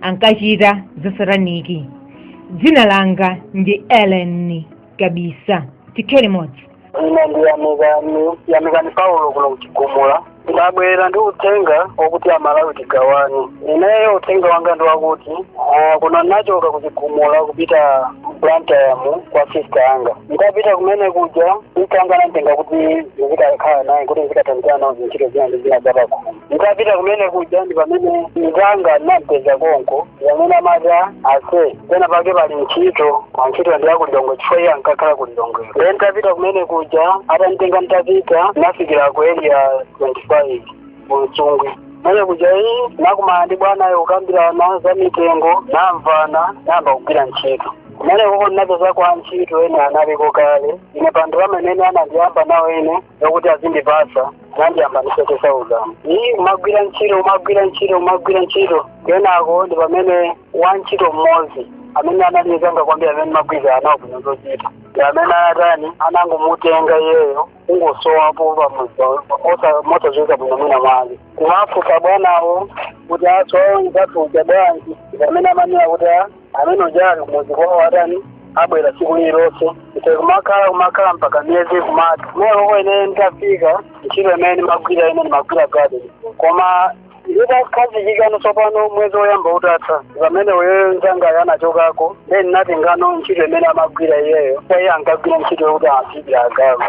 ankachita zasataniki dzina langa ndi ellen kabisa tikhale limodzi ine ndi yamikani yamikani paulo kuno ku chigumula ndabwera ndi uthenga wokuti amalawi tigawane ineyo uthenga wanga ndi wakuti ah, kuno ndinachoka ku chigumula kupita blantyre kwa sista anga nditapita kumene kuja sista anga ananditenga kuti ndizikakhala nawo kuti ndizikathandizana nawo zintchito zina ndi zina zapakhomo nditapita kumene kuja ndi pamene mzanga ndinapeza konko ndi pamene amati ase pena pake pali ntchito kwa ntchito ndi ya ku lilongwe chifukwa iye ankakhala ku lilongwe ndiye nditapita kumene kuja atanditenga nditapita ndinafikira ku area 25 ku msungwi kumene kuja iyi ndinakumana ndi bwanayo kukambirana za mitengo tinamvana ndinayamba kugwira ntchito kumenekoko ndinapeza antchito ena analiko kale ine pa anthu amene ine anandiyamba nawo ene yokuti azindipatsa anandiyamba ndi 70 thousand iyi umagwira ntchito umagwira ntchito umagwira ntchito kenako ndi pamene wa ntchito mmodzi amene anali nzanga kwambiri amene timagwirizana nawo bwino zochita ndi amene anatani anangomutenga iyeyo kungosowapo pamudzi mosadziwika bwino mwina mwake kumafunsa bwanawo kuti asowa anzathu aja bwanji ndi amene amanena kuti amene uja ali kumudzi kwawo atani abwera tsiku lililonse nde kumakhala kumakhala mpaka miyezi kumati meko ine nditafika ntchito imene ndimagwira ine ndimagwira gadeni koma nditakhazikika no tsopano mwezi woyamba utatha pamene iyeyo nzangayo anachokako nde ndinatenga no ntchito imene amagwira iyeyo kaya iye ankagwira ntchito yokuti azidya agalu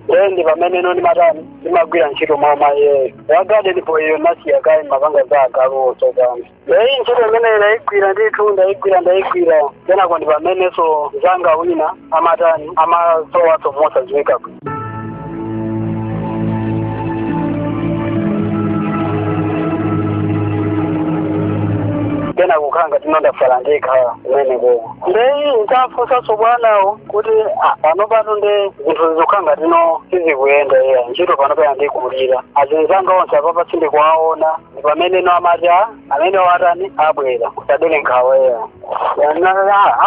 nde ndi pamene no ndimatani ndimagwira ntchito mmalo mwa iyeyo ya gadeni po iyo ndinasiya kaye ndimapanga za agaluwo tsopano eyi ntchito imene ndayigwira ndithu ndayigwira ndayigwira kenako ndi pamenenso nzanga wina amatani amasowaso mosadziwika bwino kenako kukhala ngati no ndatsala ndekha kumeneko ndeyi nditafunsanso bwanawo kuti ah, pano pano nde zinthu zikukhala ngati no sizikuyenda iya ntchito pano pena ikundikulira anzinzanga onse apapa sindikuwaona ndi pamene no amati a amene atani abwera musadere nkhawa iyayi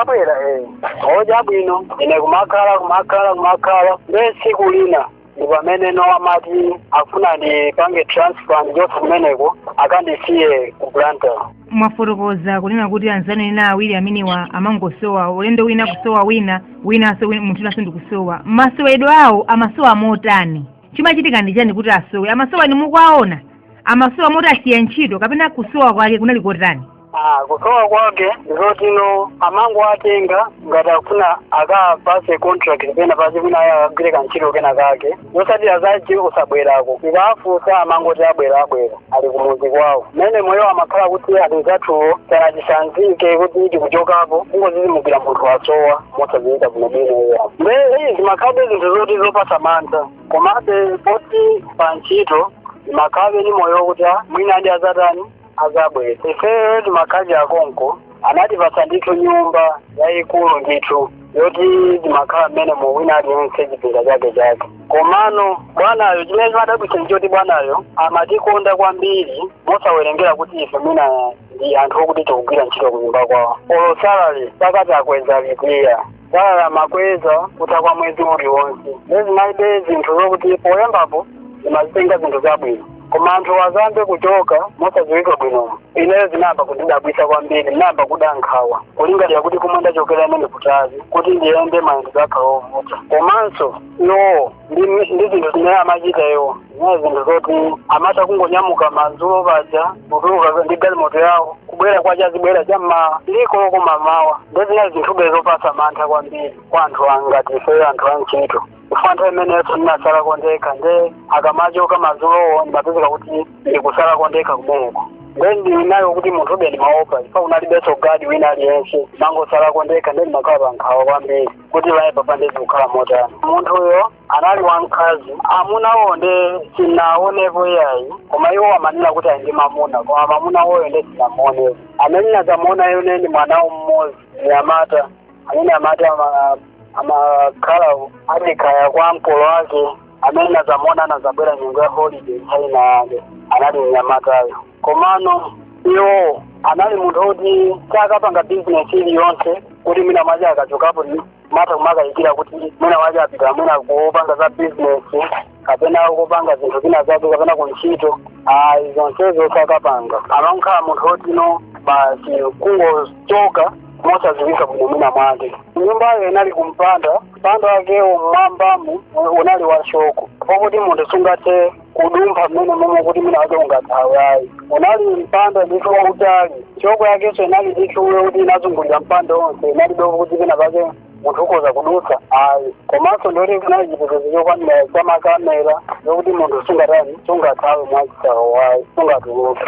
abwera eh oja bwino ine kumakhala kumakhala kumakhala nde tsiku lina ndi pamene no amati afuna andipange transfer ndichoke kumeneko akandisiye ku blantyre mwafotokoza kunena kuti anzanu ena awiri amenewa amangosowa ulendo wina kusowa wina winanso win- munthu winanso ndikusowa masowedwe awo amasowa motani chimachitika ndi chani kuti asowe amasowa inu mukuwaona amasowa moti asiya ntchito kapena kusowa kwake kunali kotani Ah, kusowa kwake ndikoti no amangowatenga ngati akufuna akawapatse contract pena pake kuti kaya akagwire kantchito kena kake zosatira zake kusabwerako ndikafunsa amangoti abwera abwera ali kumuzi kwawo mmene moyo amakhala koma anzathuwo sanatisanzike kuti tikuchokapo kungozizimuka munthu wasowa mosaziwika bwinobwino iya nde zimakhalabe zinthu zoti zopasa mantha komabe poti pa ntchito timakhalabe ni moyo kuti a mwina ndi azatani azabwera ifeyo timakhala akonko anatipasa ndithu nyumba yayikulu ndithu yoti timakhala mmenemo wina aliyense chipinda chake chake komano bwanayo chimene chimadabwitsa ndichoti bwanayo amatikonda kwambiri mosawerengera kuti ife mwina ndi anthu okuti tikugwira ntchito kunyumba kwawo olo salary pakati akweza lipira salary amakweza kutha kwa mwezi uliwonse nde zinali zinthu zokuti poyambapo timazitenga zinthu zabwino koma anthu atayamba kuchoka mosadziwika bwino ineyo zinayamba kundidabwisa kwambiri ndinayamba kuda nkhawa kulingalira kuti kumwe ndachokera ndi kutali kuti ndiyende mayendedwe akhala ovuta komanso iwowo ndi ndi zinthu zimene amachita iwo zinali zinthu zoti amatha kungonyamuka madzulo paja kutuluka ndi galimoto yawo kubwera kwacha adzabwera cha mmawa six koloko mmamawa nde zinali zinthube zopatsa mantha kwambiri kwa anthu angati ifeyo anthu a ntchito chifukwa nthawi imeneyo ndinasala kondekha nde akamachoka madzulowo ndimapezeka kuti ndikusala kondekha kumeneko nde ndinali kuti munthube ndimaopa chifukwa kunalibenso gadi wina aliyense ndimangosala kondekha nde ndimakhala pankhawa kwambiri kuti kaya apapa nde zikukhala motani munthuyo anali wamkazi amunawo nde sinaonepo iyayi koma iwo amanena kuti ali ndi mamuna koma mamuna woyo nde sinamuonepo amene ndinazamuonayo ndi mwanawo mmodzi mnyamata amene amati ama- amakhala ati kaya kwa mkulu wake amene nazamuona anazabwera nyengo ya holiday inayake anali mnyamatayo komano iwo anali munthu oti sakapanga bizinesi iliyonse kuti mwina mwake akachokapo timatha kumakayikira kuti mwina mwake apita mwina kupanga za bizinesi kapena kupanga zinthu zina zake kapena kuntchito ayi zonsezo sakapanga amangokhala munthu otino basi kungochoka mosaziwika bwino mwina mwake nyumbayo inali kumpanda mpanda wakewo mmwambamu unali wa shoko pokuti munthu sungathe kudumpha mmene momwe kuti mwina mwake ungathawe ayi unali mpanda ndithu wautali shoko yakenso inali ndithu yokuti inazungulira mpanda onse inalibe poti kuti pena pake munthu ukhoza kudutsa ayi komanso ndiyoti kunali chitetezo chokwanira cha makamera zokuti munthu sungatani sungathawe mwachisawawa ayi sungatuluke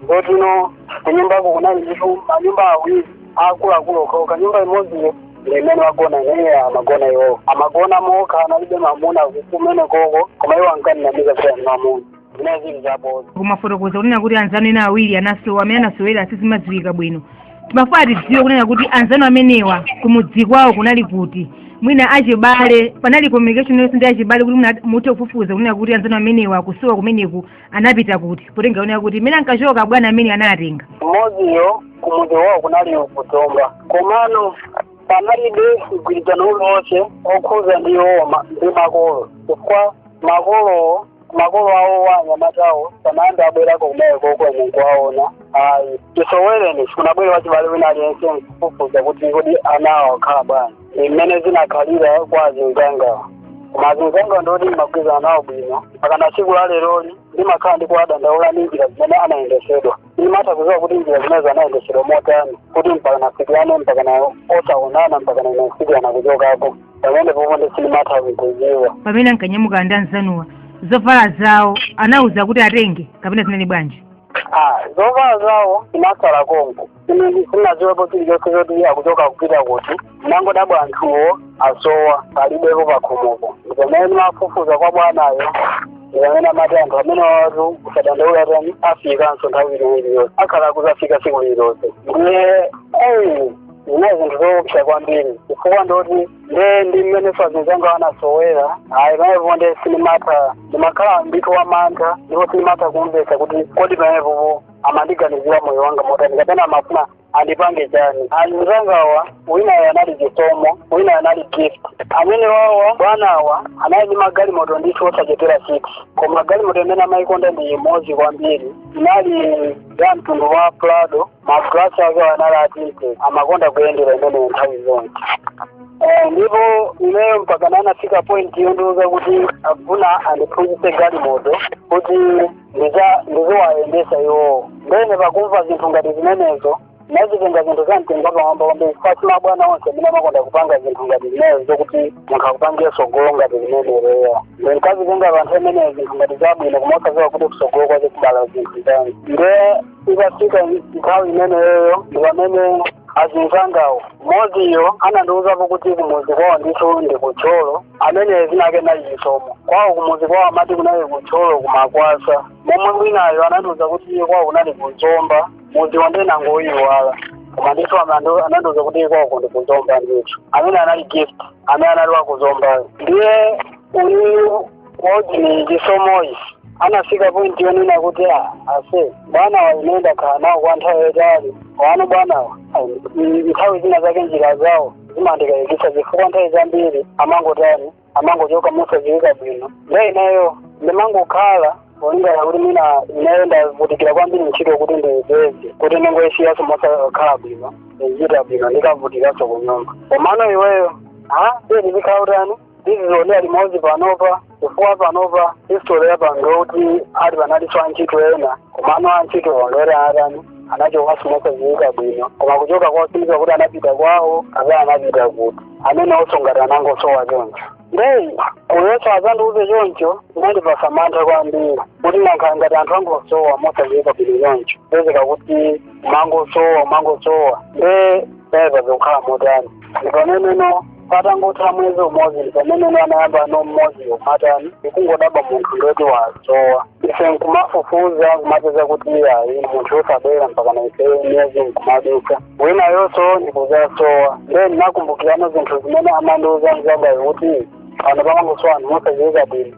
zotino kunyumbako kunali ndithu manyumba awiri akuluakulu okhawo nyumba imodziyo ndi imene timagona ineyo amagona iwowo amagona mokha analibe mamuna kumene koko koma iwo ankandinamiza kuti ali ndi mamuna zimene zili zaboza mumafotokoza kunena kuti anzanu ena awiri anasowa mmene anasowera sizimadziwika bwino timafuna tidziwe kunena kuti anzanu amenewa kumudzi kwawo kunali kuti mwina achibale panali communication yonse ndi achibale kuti mwina muthe kufufuza kunena kuti anzanu amenewa kusowa kumeneku anapita kuti potenga kunena kuti mmene ankachoka bwana amene anatenga mmodziyo kumudzi wawo kunali kuzomba komano panalibe mgwirizano uliwonse okhuza ndi iwowa ndi makolo chifukwa makolowo makolo awo a anyamatawo sanayambe abwerako kumenekoko ine nkuwaona ayi chisowereni sikunabwere wachibale wina aliyense nkufufuza kuti kodi anawo akhala bwanji mmene zinakhalira kwa azinzangawo koma azinzangawo ndoti ndimagwirizana nawo bwino mpakana tsiku la leroli ndimakhala ndi kuwadandaula ndi njira zimene anayendesedwa sindimatha kuziwa kuti njira zimenezo anayendesedwa motani kuti mpakana afikirane mpakana osaonana mpakana anafikirana kuchokako pamenepopo ndi sindimatha kuziwa pamene ankanyamuka ndi anzanuwa zovala zawo anauza kuti atenge kapena zinali bwanji ah zovala zawo zinasala konko sinaziwepo chilichonse choti akuchoka akupita kuti nangodabwa anthuwo asowa palibepo pakhomopo ndipamene ndimafufuza kwa bwanayo ndipamene amati anthu amenewatu usadandaule tani afikanso nthawi ina iliyonse akhala kuzafika siku lililonse ndiye eyi zinali zinthu zoopsa kwambiri chifukwa ndoti nde ndi mmene azinzangawo anasowera ayi pamenepo nde sinimatha ndimakhala ndithu wamantha ndipo sinimatha kumvetsa kuti kodi pamenepopo amandiganizira moyo wanga motani kapena amafuna andipange chani azinzangawa winayo anali chisomo winayo anali gift amenewawa bwanawa anali ndi magalimoto ndithu osachepera six koma galimoto imene amayikonda ndi imodzi kwambiri inali ya mtundu wa prado magalasi ake anali a tint amakonda kuyendera imeneyo nthawi zonse Eh, ndipo ineyo mpakana anafika point yondiuza kuti afuna andiphunzitse galimoto kuti ndiza- ndiziwayendesa iwowo ndene pakumva zinthu ngati zimenezo nazitenga zinthu za mtengo wapamwamba kwambiri chifukwa si mabwana onse amene amakonda kupanga zinthu ngati zimenezo zokuti munthu akupangire sogolo ngati zimenezo eya nde nkazitenga panthawi imeneyo zinthu ngati zabwino koma osaziwa kuti kusogolo kwache kubala zinthu zanji nde ikafika nthawi imeneyo ndi pamene azinzangawo mmodziyo anandiuzapo kuti kumuzi kwawo ndithu ndi kuthyolo amene zina lake anali chisomo kwawo kumuzi kwawo amati kunali kuthyolo kumakwasa momwe winayo anandiuza kuti iye kwawo kunali kuzomba muziwo nde nangoyiwala koma ndithu amando anandiuza kuti iye kwawo kundi kuzomba ndithu amene anali gift amene anali wakuzombayo ndiye uyuyu waujeni chisomoyi anafika point yonena kuti "Ah, ase bwanawa ine ndakhala nawo kwa nthawi yaitali wano bwanawa nthawi zina zake njira zawo zimandikayikitsa chifukwa nthawi zambiri amangotani amangochoka mosadziwika bwino nde ineyo ndimangokhala polingana kuti mwina ineyo ndavutikira kwambiri ntchito kuti ndiyipeze kuti ndingoyisiyaso mosakhala bwino sindichita bwino ndikavutikanso kunyumba komano iweyo ha ndizikhala utani ndizionera limodzi panopa chifukwa panopa history ya pano kuti ati panalinso antchito ena komano antchito ondore atani anachokanso mosadziwika bwino koma kuchoka kwasindika kuti anapita kwawo kapena anapita kuti amene osongati anangosowa choncho ndeyi kuyeso azandiuze choncho inandipasa mantha kwambiri kuti nankhala ngati anthu angosowa mosadziwika bwino choncho pezeka kuti mangosowa mangosowa nde apa zikukhala motani ndipameneno patangotha mwezi umodzi pamene anayambano mmodzi kumatani kungodabwa munthu ndoti wasowa ife nkumafufuza kumapeza kuti ayi munthuyu osabwera mpakana ife miyezi nkumadutsa winayonso ndikuzasowa nde ndinakumbukirano zinthu zimene amandiuza mzangayo kuti pano pamangosowa anthu mosaziwika bwino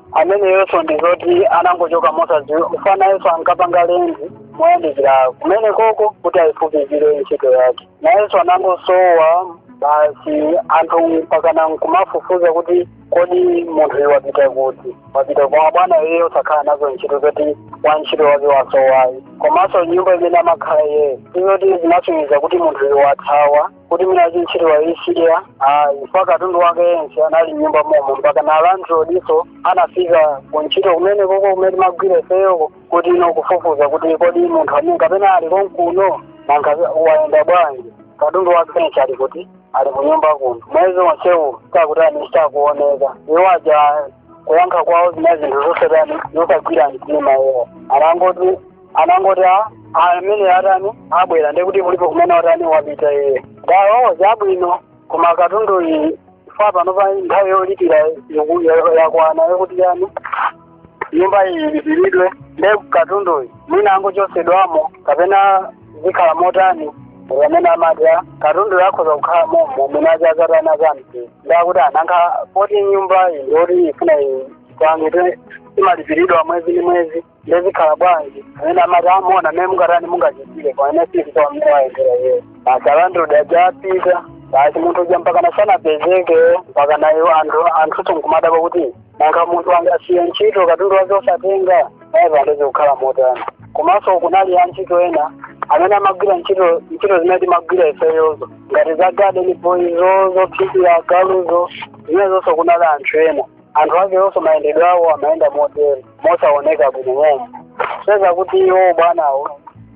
ameneyonso ndi zoti anangochoka mosadziwika chifukwa nayenso ankapanga lendi moyandikira kumenekoko kuti ayifupikire ntchito yake nayenso anangosowa basi anthu mpakana nkumafufuza kuti kodi munthuyu wapita kuti wapita koma bwana iye osakhala nazo ntchito zoti wa ntchito wake wasowayi komanso nyumba imene amakhala iyeyo sizoti zinasonyeza kuti munthuyu wathawa kuti mwina ntchito waisiya chifukwa katundu wake yense anali mnyumba momo mpakana alandlordinso anafika kuntchito kumenekoko kumene timagwira ifeyoko kuti ino kufufuza kuti kodi munthu amene kapena ali konkuno nanga wayenda bwanji katundu wake yense ali kuti ali kunyumba kuno mwezi wonsewu sakutani sakuoneka iwo aja kuyankha kwawo zinali zinthu zosatani zosagwira mtima iwo anangoti anangoti a amene atani abwera ndiye kuti kulipo kumene watani wapita iye dawo chabwino koma katunduyu chifukwa panopa nthawi yolipira yoku- yo- yakwana yokuti chani nyumba iyi ilipiridwe ndiye katunduyu mwina angochosedwamo kapena zikhala motani amene amati katunduyo akhoza kukhala momo mwina aja azatani zamti ndakuti a nanga poti nyumba iyi ndiyoti ifuna ipange imalipiridwa mwezi ndi mwezi nde zikhala bwanji amene amati amona mmene mungatani mungachitire pamene sitidziwa mmene wayendera iyeyo basi alandlord aja apita basi munthu uja mpakana sanapezeke mpakana iwo anthu anthu nkumadabwa kuti nanga munthu angasiye ntchito katundu wake osatenga naye apa nde zikukhala motani komanso kunali antchito ena amene amagwira ntchito ntchito zimene timagwira ifeyozo ngati za garden boy zo zophikira agaluzo zimenezonso kunali anthu ena anthu akeonso mayendedwe awo amayenda motero mosaoneka bwino momwe seza kuti iwo bwanawo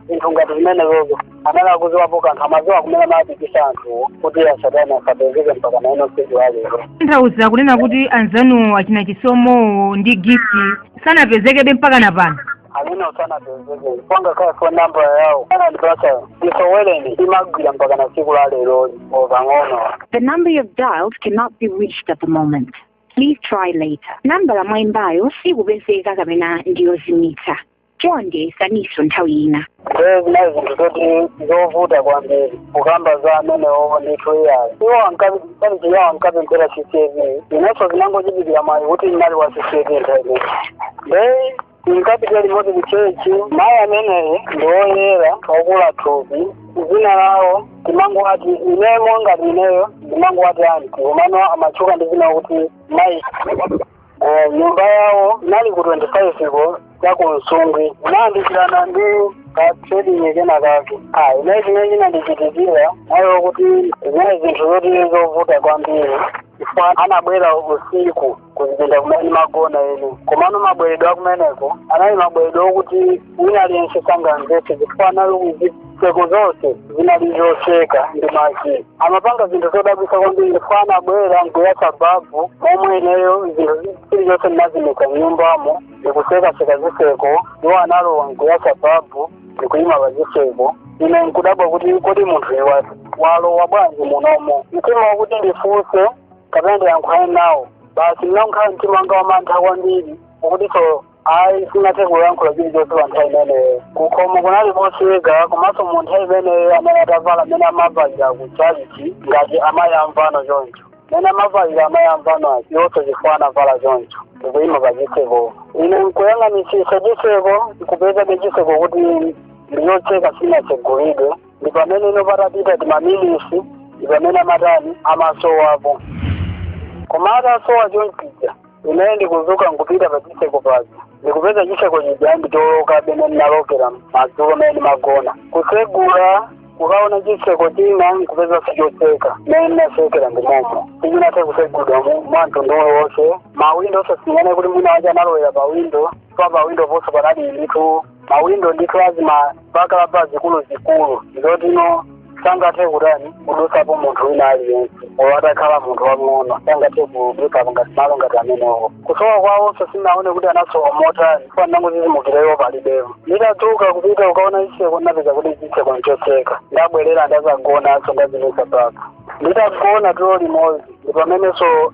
zinthu ngati zimenezozo amene akuziwapo kanthu amadziwa kumene amabisa anthuwo kuti asatani asapezeke mpaka na lino tsiku la lero tanthauza kunena kuti anzanuwo achina chisomowo ndi gift sanapezekebe mpaka na pano ayi sanapezeke pa ngakhale phone number yawo anandipatsa siyoti imagwira mpaka na tsiku la lero pang'ono The number you've dialed cannot be reached at the moment. Please try later. Nambala mwaimbayo sikupezeka kapena ndiyozimitsa. chonde yesaninso nthawi ina ndiye zinali zinthu zoti zovuta kwambiri kukamba za amenewo ndithu iyayo iwo ankapemphera CCAP inenso zinangochitikira mwayi kuti ndinali wa CCAP nthawi nde tinkapita limodzi ku chechi mayi ameneyi ndi woyera okula thupi dzina lawo timangowati ine monga ineyo ndimangowati anti komano amatchuka ndi dzina lakuti mayi Eh, nyumba yawo inali ku 25 ko ya ku msungwi inayandikirana ndi ka trading kena kake ayi nde chimene chinandichitikira mayi wakuti zinali zinthu zoti zovuta kwambiri chifukwa anabwera usiku kuchipinda kumene ndimagona ine komano mabweredwe akumeneko anali mabweredwe okuti wina aliyense sangamvetse chifukwa anali zitseko zonse zinali zotseka ndi maki amapanga zinthu zodabwitsa kwambiri chifukwa anabwera nkuyatsa babu momwe ineyo chilichonse ndinazimitsa mnyumbamo ndikutsekatseka zitseko iwo analowa nkuyatsa babu ndikuyima pa chitseko ine nkudabwa kuti kodi munthuyu wa walowa bwanji munomo mtima wakuti ndifunse kapena ndiyankhulane nawo basi ndinakhala mtima wanga wamantha kwambiri akutinso ayi sinathe kuyankhula chilichonse pa nthawi imeneyo kukhomo kunali kotseka komanso mu nthawi imeneyo anali atavala mmene amavalira ku chalichi ngati amayi amvano choncho mmene amavalira amayi amvano aja onse chifukwa anavala choncho ndikuyima pa chitseko ine nkuyang'anitsitsa chitseko ndikupezabe chitseko kuti nchotseka sichinatsegulidwe ndi pamene ano patapita timaminitsi ndi pamene amatani amasowapo koma atasowa chonchija ineyo ndikudzuka nkupita pa chitseko paja ndikupeza chitseko chija ndi choloka mmene ndinalokera madzulo mmene ndimagona kutsegula kukaona chitseko china nkupeza nchotseka mmene ndinatsekera ndimomo sichinathe kutsegulidwa mu- mwa mtundu uliwonse mawindo osasiyana kuti mwina aja analowera pa windo pa pa windo ponso panali ndithu mawindo ndithu a zima burglar bar zikuluzikulu zoti no sangathe kutani kudutsapo munthu wina aliyense olo atakhala munthu wamng'ono sangathe kudutsapo ngati malo ngati amenewo kusowa kwawonso sinaone kuti anasowa motani chifukwa ndangodzidzimukira iwo palibepo nditadzuka kupita kukaona zitseko ndinapeza kuti chitseko nchotseka ndabwerera ndadzagonanso ndazimitsa babu nditagona tulo limodzi ndi pamenenso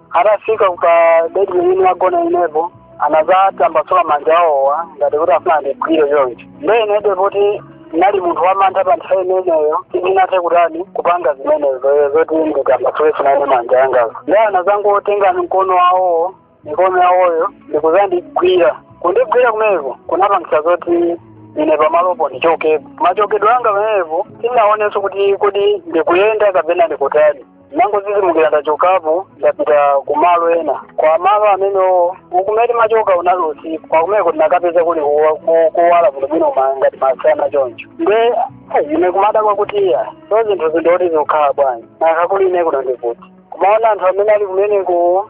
atafika pa bedi imene nagona inepo anazatambasula manja awowa ngati kuti afuna ndigwire choncho nde inebe poti ndinali munthu wamantha pa nthawi imeneyo sindinathe kutani kupanga zimenezo zoti nditambasule finane manja angazo nde anazangotenga mkono wawowo mikono yawoyo ndikuzandigwira kundigwira kumeneko kunapangisa zoti ine pamalopo ndichokepo machokedwe anga pamenepo sindinaonenso kuti kodi ndikuyenda kapena ndikutani nangozizimukira ndachokapo ndapita kumalo ena koma malo amenewo uku mene nimachoka unali usiku koma kumeko ndinakapeza kuli kuwa- ku- kuwala bwinobwino ma- ngati masana choncho nde ine kumadabwa kuti ah so zinthu izi ndoti zikukhala bwanji nanga kuli ine kuno ndi kuti kumaona anthu amene ali kumeneko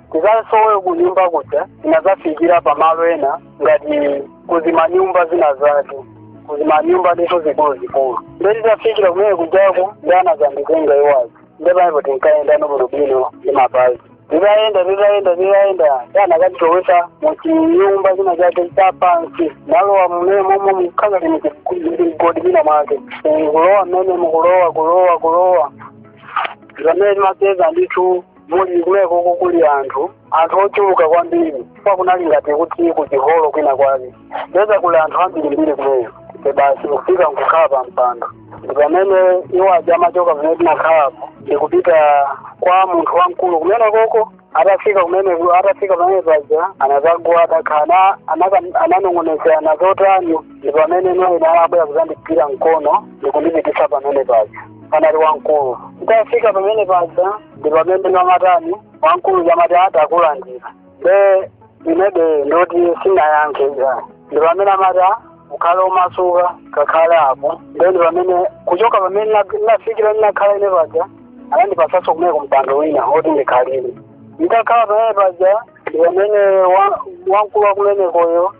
tizansowe kunyumba kuja tinazafikira pamalo ena ngati kuzimanyumba zina zake kuzimanyumba ndithu zikuluzikulu nde titafikira kumene kujako nde anazanditenga iwo aja nde pamenepo tinkayenda no bwinobwino ndi mapazi titayenda titayenda titayenda anakatilowesa muchinyumba china chake chapansi nalowa mmenemomo mukhala ngati migodi ina mwake kulowa mmene muja kulowa kulowa kulowa pamene timapeza ndithu muli kumenekoko kuli anthu anthu ochuluka kwambiri chifukwa kunali ngati kuti kuchiholo kwina kwake tapeza kuli anthu ambirimbiri kumene basi kufika nkukhala pa mpando ndi pamene iwo aja amachoka pamene tinakhalapo ndi kupita kwa munthu wamkulu kumenekoko atafika kumene atafika pamene paja anazagwada kha- ana- anaka- ananong'onezana zotani ndi pamene nane anabwera kuzandigwira mkono ndikundipitisa pamene paja panali wamkulu nditafika pamene paja ndi pamene namatani wamkulu uja amati ah takulandira nde inebe ndoti sinayankhe ndi pamene amati ah ukhale omasuka kakhale apo nde ndi pamene kuchoka pamene na- nafikira ndinakhala ine paja anandipasaso kumeneko mpando wina oti ndikhalire nditakhala pamene paja ndi pamene wa- wamkulu wakumenekoyo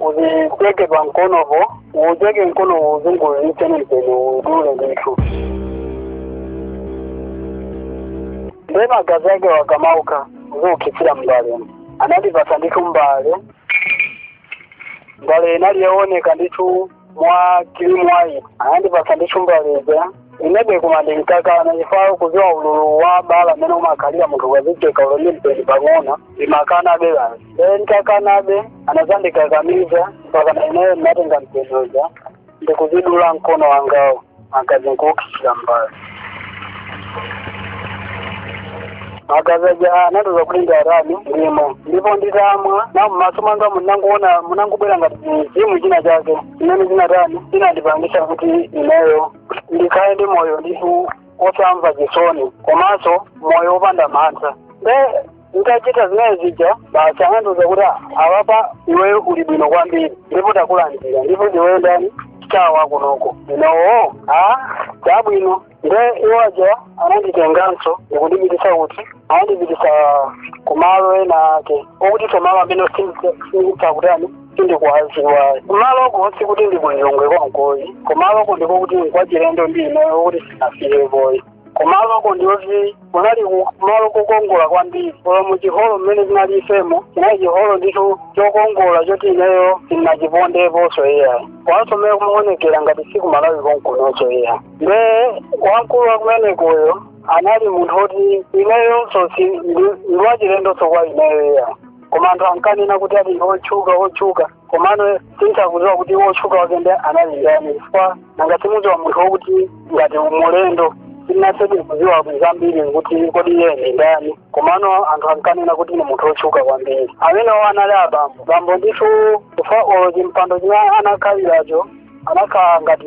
uzicheke pa mkonopo ucheke mkono uzunguliise mpeni udule ndithu nde magazi akewo akamatuka uzikhuthira mbalemu anandipasa ndithu mbale mbale inali yooneka ndithu mwa kirimu white anandipasa ndithu mbale ija inebe kuma- ndinkakana chifukwa kuziwa ululu wa bala mmene umakhalira munthu ukazicheka olo ndi mpeni pang'ono nimakanabe basi ee nditakanabe anazandikakamiza mpaka na ineyo ndinatenga mpeni uja ndikuzidula mkono wangawo magazi nkukhuthira mbale magazi aja anandiuza kuti nditani ndimwe ndipo nditamwa na mmaso mwanga munangoona munangobwera ngati chimzimu china chake chimene chinatani chinandipangisa kuti ineyo ndikhale ndi moyo ndithu osamva chisoni komanso moyo wopanda mantha nde nditachita zimene zija basi anandiuza kuti a apa iweyo uli bwino kwambiri ndipo takulandira ndipo iweyo ndani ndi star wakunoko inowo a chabwino nde iwaja ananditenganso ndikundipitisa kuti anandipitisa kumalo ena ake okuti simalo amene sindikutani sindikuwaziwayi kumaloko sikuti ndi ku Lilongwe konkoyi kumaloko ndiko kuti nkwachilendo ndi ineyo okuti sinafikepoyi kumaloko ndiyoti kunali kumalo kokongola kwambiri koma mu chiholo mmene tinali ifemo chinali chiholo ndithu chokongola choti ineyo sinachipondeponso iyayi komanso mmene kumaonekera ngati si ku Malawi konkunonso iyayi nde wamkulu wakumenekoyo anali munthu woti ineyonso si ndi- ndiwachilendonso kwa ineyo iyayi koma anthu ankanena kuti ali otchuka otchuka komano sindikuziwa kuti wotchuka wake nde anali ndani chifukwa nanga si umaziwa munthu wokuti ngati mulendo sinathedi kuziwa zambiri kuti kodi iye ndi ndani komano anthu ankanena kuti ni munthu wotchuka kwambiri amenewo anali abambo bambo ndithu chifukwa olo chimpando chimene anakhaliracho anakhala ngati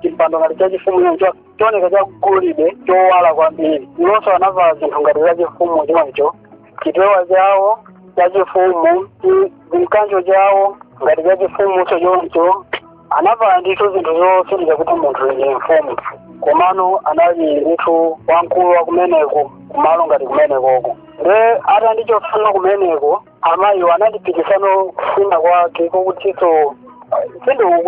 chimpando ngati chachifumu choncho choneka chagolide chowala kwambiri iwonso anavala zinthu ngati zachifumu choncho chipewa chawo chachifumu ndi mkanjo chawo ngati chachifumu chochoncho anavala ndithu zinthu zosonyeza kuti munthu ndi mfumu komano anali ndithu wamkulu wa kumeneko kumalo ngati kumenekoko nde atandichosa kumeneko amayiwo ananditipitsano kuchina kwake kokutiso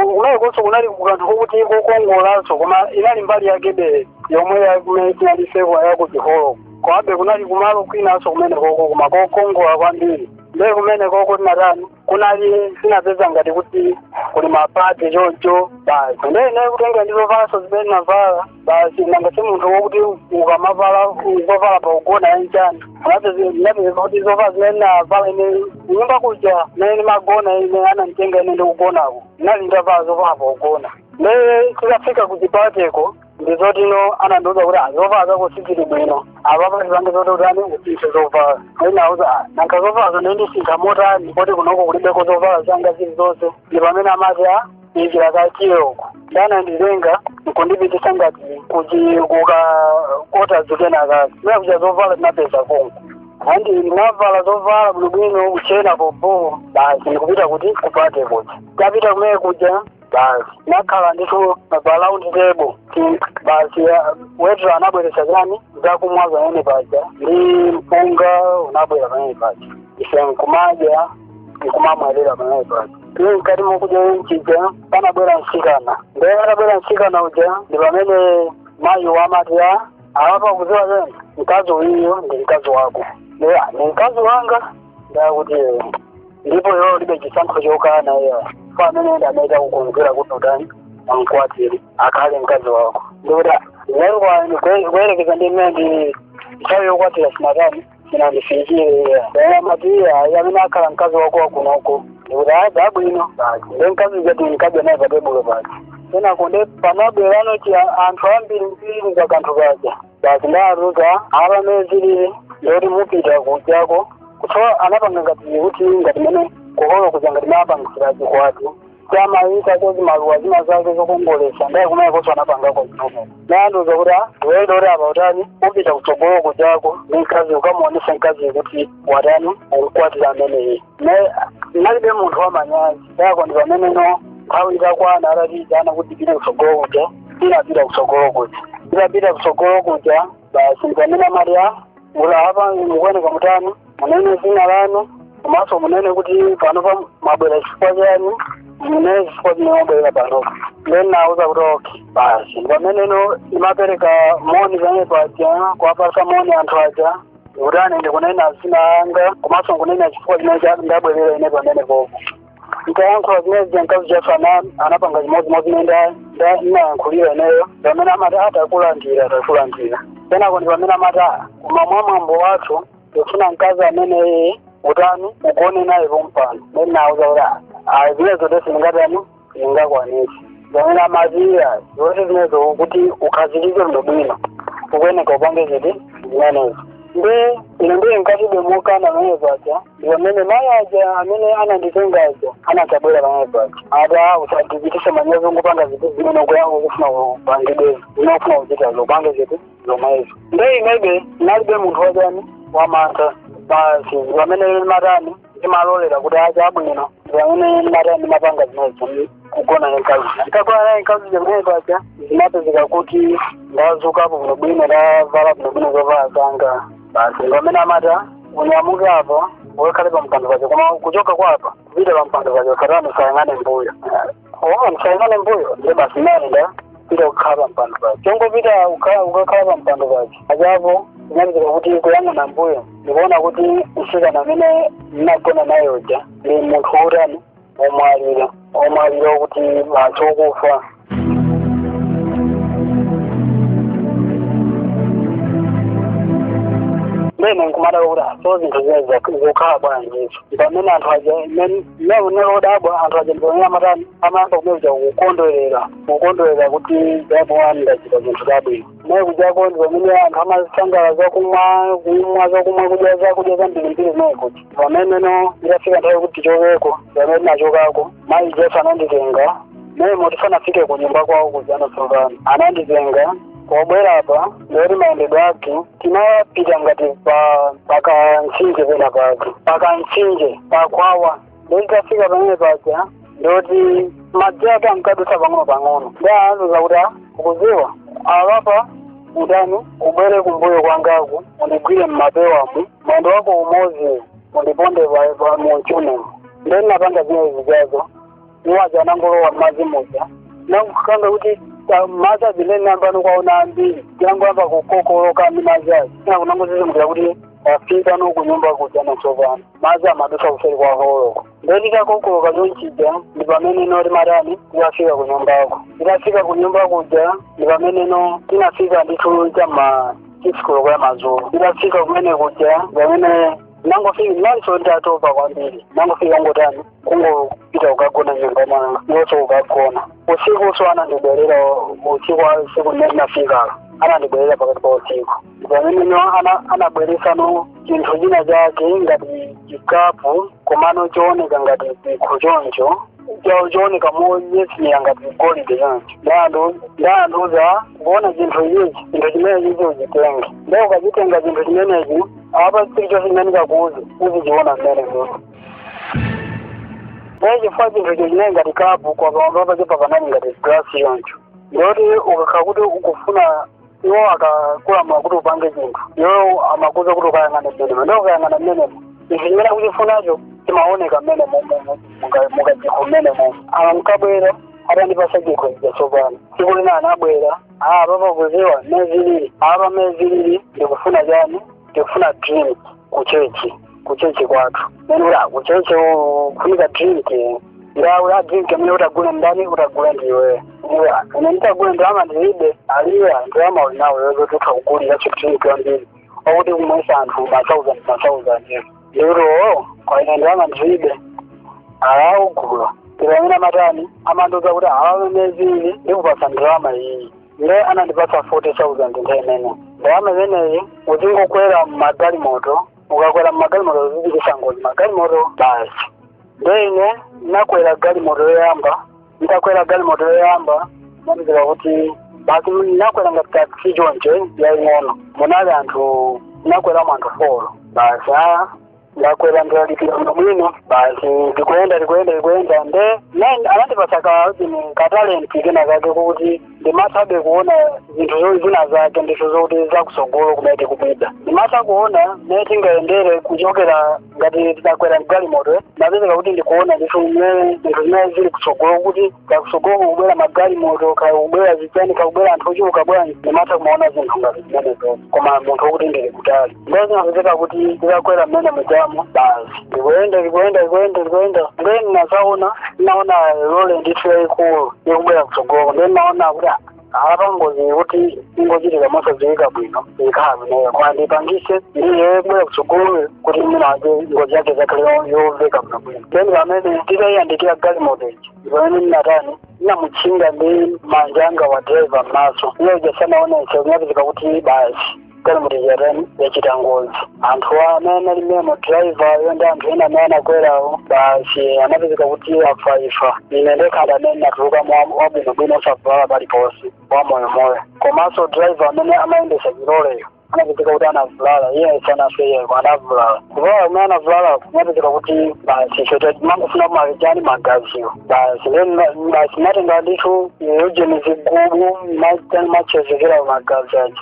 kumenekonso kunali kukanthu kokuti kokongolanso koma inali mbali yakebe yomwe ya kumene tinali ifeyo ya ku chiholo komabe kunali kumalo kwinanso kumenekoko koma kokongola kwambiri nde kumenekoko tinatani kunali tinapeza ngati kuti kuli mapate choncho basi nde ine kutenga ndi zovalanso zimene navala basi nanga si munthu wokuti ukamavala zovala pogona ya nchani napeza kuti zovala zimene navala ine nyumba kuja mene magona ine ananditenga ine ndikugonako nali ndavala zovala pogona nde tikafika kuchipateko ndizotinso anandiuza kuti a zovala zako sizili bwino apapa tipange zoti utani usinthe zovala ndinauza nanga zovalazo ndizisintha motani poti kunoko kulibeko zovala zanga zili zonse ndi pamene amati a tiye uko nde ananditenga kundipitisa ngati kuti kukakota zikena kake kumene kuja zovala tinapeza konko andi ndinavala zovala bwinobwino kuchena popo basi ndikupita kuti kupate kuja tapita kumene kuja basi nakhala ndithu pa round table Ti- basi ah, weta anabweretsa chani zakumwa pamene paja ndi mpunga unabwera pamene paja ife nkumadya nkumamwerera pamene paja ndi mkati mokudya muja panabwera msikana ndiye atabwera msikana uja ndi pamene mayi aja amati a apa ukuziwa chani mkazi uyiyo ndi mkazi wako ndiye "Ah, ndi mkazi wanga ndakuti ndipo iwe ulibe chisankho chokana iyayi amene ndi amene takukonzera kuti utani amkwatire akhale mkazi wako ndikuti a koma kuyerekeza ndi mmene ndi nthawi yokwatira sinatani sinandifikire iyayi amati iyayi amene akhala mkazi wako wakunoko ndikuti a chabwino basi nde mkazi uja tinkadya naye patebulo pake kenako nde panabwerano chiyani anthu ambiri mbiri pa kanthu paja basi anandiuza apa mene zilili ndi zoti mupita kujako kutsogolo anapanga ngati kuti ngati mene kuholo kuja ngati amapangitsira chikwati amayikako zimaluwa zina zake zokongolesa ndiye kumeneko koso anapangako zomwezo ndiye anandiuza kuti iwe uli apa utani upita kutsogolo kujako ndi mkazi ukamuonesa mkazi kuti watani ukukwatira ameneyi ne ndinalibe munthu wamanyazi yako ndi pameneno nthawi itakwana atatiitana kuti tipite kutsogolo kuja tinapita kutsogolo kuja tinapita kutsogolo kuja basi ndipamene amati a ulu apa mukuoneka mutani munene dzina lanu komanso munene kuti panopa mwabwera chifukwa chani munene chifukwa chimene mwabwera panopa then nauza kuti okay basi ndipameneno ndimapereka moni pamene paja kuwapasa moni anthu aja kutani ndikunena dzina langa komanso nkunena chifukwa chimene cha- ndabwerera ine pamenepopo ntayankhula zimene zija mkazi uja naye ana- anapanga chimodzimodzi mmene nda- nda- ndinayankhulira ineyo pamene amati takulandira takulandira kenako ndi pamene amati "Ah, koma mwa mwambo wathu tikufuna mkazi amene utani ugone naye pompano ndinawauza kuti "Ah, ah, zimenezo nde sindingatani sindingakwanise pomwe amati iyayi zonse zimenezo kuti ukhazikike bwino bwino ukuyeneka upange ziti zimenezo nde ine ndiye nkadalibe mokana pamene paja ndi pomwe mayi aja amene ananditenga aja anabwera pamene paja ati usadzichitise manyazi ungopanga ziti zimene ukuya- ukufuna upangedi zi zimene ukufuna kuchitazo upange ziti zomwezo nde inebe ndinalibe munthu wachani wamantha basi pamene ndimatani ndimalolera kuti a chabwino ndi pamene ndimatani ndimapanga zimenezo kugona naye mkazi nditagona naye mkazi pamene paja ndimapezeka kuti ndazukapo bwinobwino ndavala bwinobwino zovala zanga basi ndi pamene amati unyamuke apo ukakhale pa mpando paja koma ukuchoka apa kupita pa mpando paja usatani usayang'ane mbuyo owa msayang'ane mbuyo nde basi nditapita kukhala pampando pake chongopita ukha- ukakhala pampando pake aja apo inapezeka kuti kuyang'ana mbuyo ndikuona kuti msikana amene ndinagona naye uja ndi munthu wotani womwalira womwalira wokuti basi wokufa nde ine nkumadabwa kuti so zinthu zimenezo zikukhala bwanji izo pamene anthu aja mmene ndinali odabwa anthu aja ndipamene amatani amayamba kumene kuja kukondwerera kukondwerera kuti apa ndachita zinthu zabwino kumene kujako ndi pamene anthu amasangalala zakumwa kumwa zakumwa kudya zakudya zambirimbiri kumene kuja pameneno itafika nthawi kuti tichokeko pamene ndinachokako mayi aja ananditenga momwemo tisanafike kunyumba kwawo kuja tsopano ananditenga ubwere apa ndoti mayendedwe ake tinapita ngati pa pakamtsinje mtsinje pena pake paka mtsinje pakwawa ndikafika pamene paja ndoti madzi ake ankadutsa pang'ono pang'ono ndi anandiuza kuti "Ah, ukuziwa alapa udani ubwere kumbuyo kwangaku undigwire mmapewamu mwendo wako umodzi undiponde pa- pa- mu mchunemu ndinapanga zimene zijazo iwo aja anangolowa mmadzi muja nakukanga kuti ta- madzi azimene nambano kwaona ambiri tangoyamba kukokoloka ndi madzi aja kungodzidzimukira kuti tafika no kunyumba kuja natsopano madzi amadusa kuseri kwa holoko nde titakokoloka chonchija ndi pamene no timatani titafika kunyumbako titafika kunyumba kuja ndi pamene no tinafika ndithu cha m'ma sikisi koloko ya madzulo titafika kumene kuja ndi pamene nangofika nanso nditatopa kwambiri ndinangofikira kungotani kungopita kukagona m'nyumba mwanga chonso kukagona usiku so anandibwerera usiku wa usiku womwe ndinafika anandibwerera pakati pa usiku pamene anabweresa no chinthu china chake ngati chikapu komano chooneka ngati chikho choncho cho- chooneka monyezimira ngati golide choncho nde anandiuza ukuona chinthu ichi chinthu chimenechi uchitenge nde ukachitenga chinthu chimenechi apa chilichonse chimene ndikakuuza uzichiona mmene muno Nde chifukwa chinthu icho chinali ngati kapu kwa pamwamba pake panali ngati glasi choncho. Ndiyoti ukakhala kuti ukufuna iwo akakulamula kuti upange chinthu. Iwo amakuza kuti ukayang'ana mmenemo. Ndiye ukayang'ana mmenemo. Ichi chimene akuchifunacho chimaoneka mmenemo mumu mukachikho mmenemo. Ankabwera atandipasa chikho chija tsopano. Tsiku lina anabwera. Ah, apapa ukudziwa mmene zilili. Apa mmene zilili ndikufuna chani? Ndikufuna drink. kuchechi kuchechi kwathu uli mawa kuchechi kufunika drinki nda ula drinki amene utagule ndani utagule ndiwe iya ine nditagule ndalama ndilibe ali iyayi ndalama uli nayo yozo tutha kugulira drinki wambiri wakuti kumwesa anthu ma thousand ma thousand ndikuti oo kwa ine ndalama ndilibe ali ugula ndi pamene amatani amandiuza kuti awa mezili ndikupasa ndalama iyi ndiye anandipatsa 40,000 ndiye mmene ndalama imeneyi uzingokwera mmagalimoto ukakwera mmagalimoto uzichititsa ngozi magalimoto basi ndiye ine ndinakwera galimoto yoyamba nditakwera galimoto yoyamba ndinapezeka kuti basi ndinakwera ngati taxi choncho yaying'ono munali anthu ndinakweramo anthu folo basi a ndakwera ndalipira bwino bwino basi ndikuyenda ndikuyenda ndikuyenda nde ine anandipasa kaini katalenti kena kake kuti ndimathabe kuona zinthu zo- zina zake ndithu zokuti zakusogolo kumene tikupita ndimatha kuona mmene tingayendere kuchokera ngati titakwera mgalimoto napezeka kuti ndikuona ndithu mmene zinthu zimene zili kusogolo kuti kakusogoko kukubwera magalimoto kakubwera zichani kakubwera anthu ochuluka bwanji ndimatha kumaona zinthu ngati zimenezo koma munthu wokuti ndili kutali ndipo zinapezeka kuti nditakwera mmene mujamo basi ndikuyenda ndikuyenda ndikuyenda ndikuyenda ndiye ndinazaona ndinaona lole ndithu yayikulu ikubwera kutsogoko ndiye ndinaona kuti ah, apa ngozi kuti ingochitika mosadziwika bwino ikhala ineyo koma ndipangise ndi yobwera kutsogoloyo kuti mwina wake ngozi yake zakhale yomveka bwino bwino then pamene titayiyandikira galimoto ija ndi pamene ndinatani ndinamutchinga ndi manja anga wa driver m'maso iye uja sanaonese kunapezeka kuti basi galimoto yatani yachita ngozi anthu amene analimemo drivayo ndi anthu ena amene anakwerawo basi anapezeka kuti afa ifa ine ndekha ndi amene natuluka wabwinobwino osavulala paliponse wamoyomoyo komanso driva amene amayendesa chiloleyo anapezeka kuti anavulala iye sanafe iye anavulala kuvulala kumene anavulala kunapezeka kuti basi ife timangofuna ndi magaziwo basi then basi timatenga ndithu ujeni zigubu timatchezekera magazi aja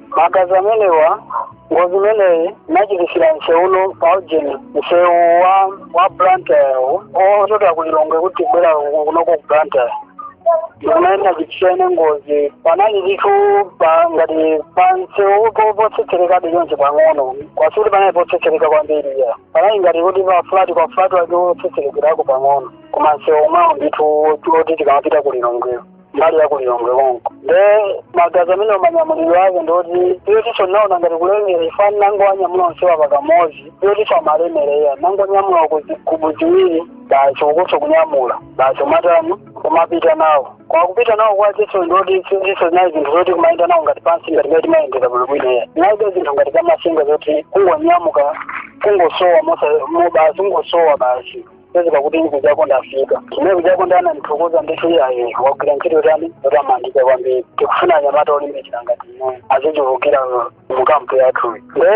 magazi amenewa ngozi imeneyi ndinachititsira msewu uno pa ujeni msewu wa wa blantyre ochokera ku lilongwe kuti kubwera kunoko ku blantyre mmene ndinachititsira ine ngozi panali ndithu pa ngati pa msewu po- potsetserekabe chonchi pang'ono koma sikuti panali potsetsereka kwambiri ya panali ngati kuti pa fulati kwa fulati wake otsetserekerako pang'ono koma msewu omwewo ndithu oti tikamapita ku lilongweyo mbali ya ku Lilongwe konko nde magazi amene manyamulidwe ake ndoti iyo tiso naona ngati kulemera ifani nango wanyamula onsewa pakamodzi iyo tiso amalemereya nango nyamula zigubu ziwiri basi ukuso kunyamula basi umatani kumapita nawo kwa kupita nawo kwa tiso ndoti tiso zinali zinthu zoti kumayenda nawo ngati pansi ngati timayendera bwinobwino iya nalibe zinthu ngati zamasenga zoti kungonyamuka kungosowa basi kungosowa basi pezi pakuti ine kujako ndafika kumene kujako anandithokoza ndithu iyayi wagwira ntchito yotani yotamandika kwambiri tikufuna anyamata olimbikira ngati ine azichulukira mukampu yathu nde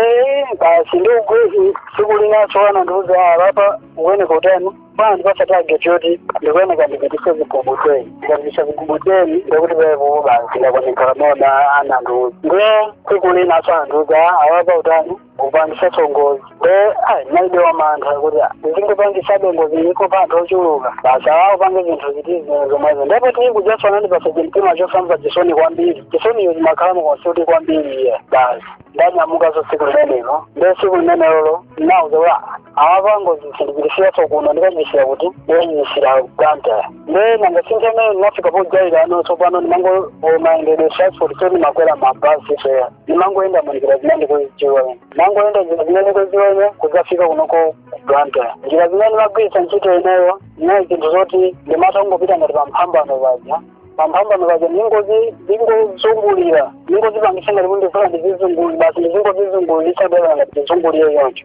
basi ndi ugwezi tsiku linaso anandiuza a apa ukuyeneka utani anandipatsa tageti yoti ndikuyeneka ndipititse zigubu teni ndikapititsa zigubu teni ndikuti pepo basi ndakwanekala mona anandiuza nde tsiku linaso anandiuza a apa utani kupangitsaso ngozi nde ayi nalibe wamantha kuti ndingopangisabe ngozi iko pa anthu ochuluka basi awawo pange zinthu ziti zimene zomwezo ndipo tili kujaso anandipatsa chimtima chosamva chisoni kwambiri chisoniyo zimakhala mukonsuti kwambiri iye basi ndanyamukaso tsiku limenelo nde tsiku limenelolo nawauza kuti apa ngozi sindichititsiraso kuno ndikachititsira kuti ndikachititsira Blantyre nde nanga si nthawi imene ndinafika pojaira ano tsopano ndimango mayendedwe transport sindimakwera mabasiso iya ndimangoyenda munjira zimene ndikuzidziwa ine ndimangoyenda njira zimene ndikuzidziwa ine kudzafika kunoko ku Blantyre njira zimene ndimagwiritsa ntchito ineyo inali zinthu zoti ndimatha kungopita ngati pamphambano paja pamphambano paja ndingozi ndingozungulira ndingozipangisa ngati kuti ndifuna ndizizungulira basi ndizingozizungulirisa dala ngati ndizungulire choncho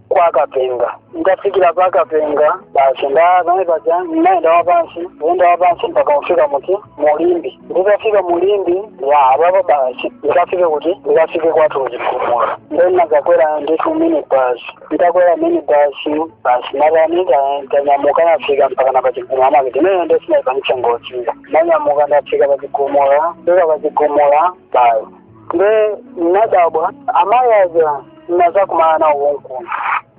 kwa kapenga ndafikira pa kapenga basi ndapamene paja ndinaenda wapansi kuyenda wapansi mpaka kufika muti mu Limbe nditafika mu Limbe ya apapo basi ndikafike kuti ndikafike kwathu kuchigumula nde ndinakakwera ndithu mini basi nditakwera mini basi basi natani ndanyamuka nafika mpaka na pachigumula maketi ineyo nde sinaipangitsa ngoziyo ndanyamuka ndafika pachigumula ndafika pachigumula basi nde nadabwa amayi aja nazakumana nawo konkuno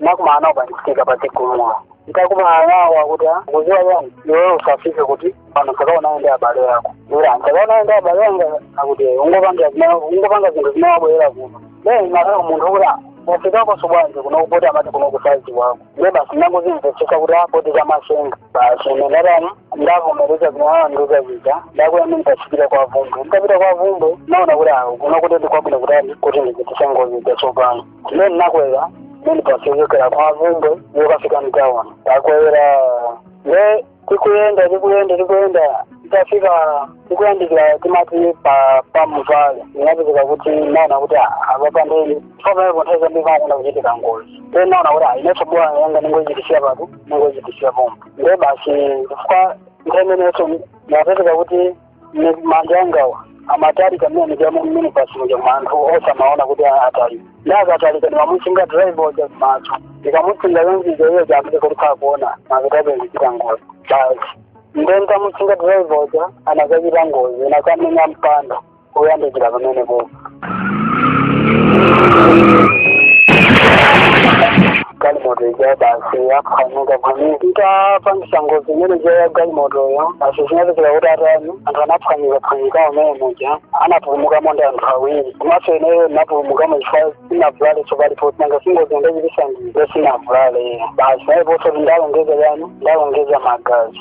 nakumana nawo nditafika pachigumula ntakumana nawo akuti "Ah, ukudziwa chani iweyo usafike kuti kwanu usakaonane ndi abale ako ira nsakaonane ndi abale anga akuti ungopanga zina- ungopanga zinthu zimene wabwerera kuno then nakala munthu kuti wafikakoso bwanji kunoko poti amati kunoko sadziwako ndiye basi ndangozimvetsetsa kuti a poti zamasenga basi ine ndatani ndavomereza zimene anandiuza zija ndakwera mini basi kupita kwa Bvumbwe nditapita kwa Bvumbwe naona kuti awo kuno kuti ndikwabwino kutani kuti ndichititse ngozi zatsopano ndiye ndinakwera mini basi yochokera kwa Bvumbwe yokafika mtauni ndakwera ne tikuyenda tikuyenda tikuyenda tafika tikuyandikira timati pa pa mutwale inapezeka kuti naona kuti apa ndi pamene nthawi zambiri pamakonda kuchitika ngozi nde naona kuti a ineso bola yanga ningochititsira pati ningochititsira pompo nde basi chifukwa nthawi imenenso napezeka kuti Ine manja angawa amatalika mmene mujamu minibasi muja anthu onse amaona kuti atalika nde akatalika ndimamutchinga driver uja kumaso ndikamutchinga yonzizo iyo jakuti kuti kakuona amapita ndikuchita ngozi basi nde ntamutchinga driver uja anakachita ngozi nakamenya mpanda kuyandikira pamenepopo galimoto ija basi yaphwanyika phwanyika ntapangisa ngozi imene ija ya galimotoyo basi zinapezeka kuti atani anthu anaphwanyika phwanyika mmene muja anapulumukamo ndi anthu awiri komanso ineyo ndinapulumukamo chifukwa sinavulale tsopalipo nanga singozi ndachitisa ine nde sinavulale basi ndiponso ndalongeza chani ndalongeza magazi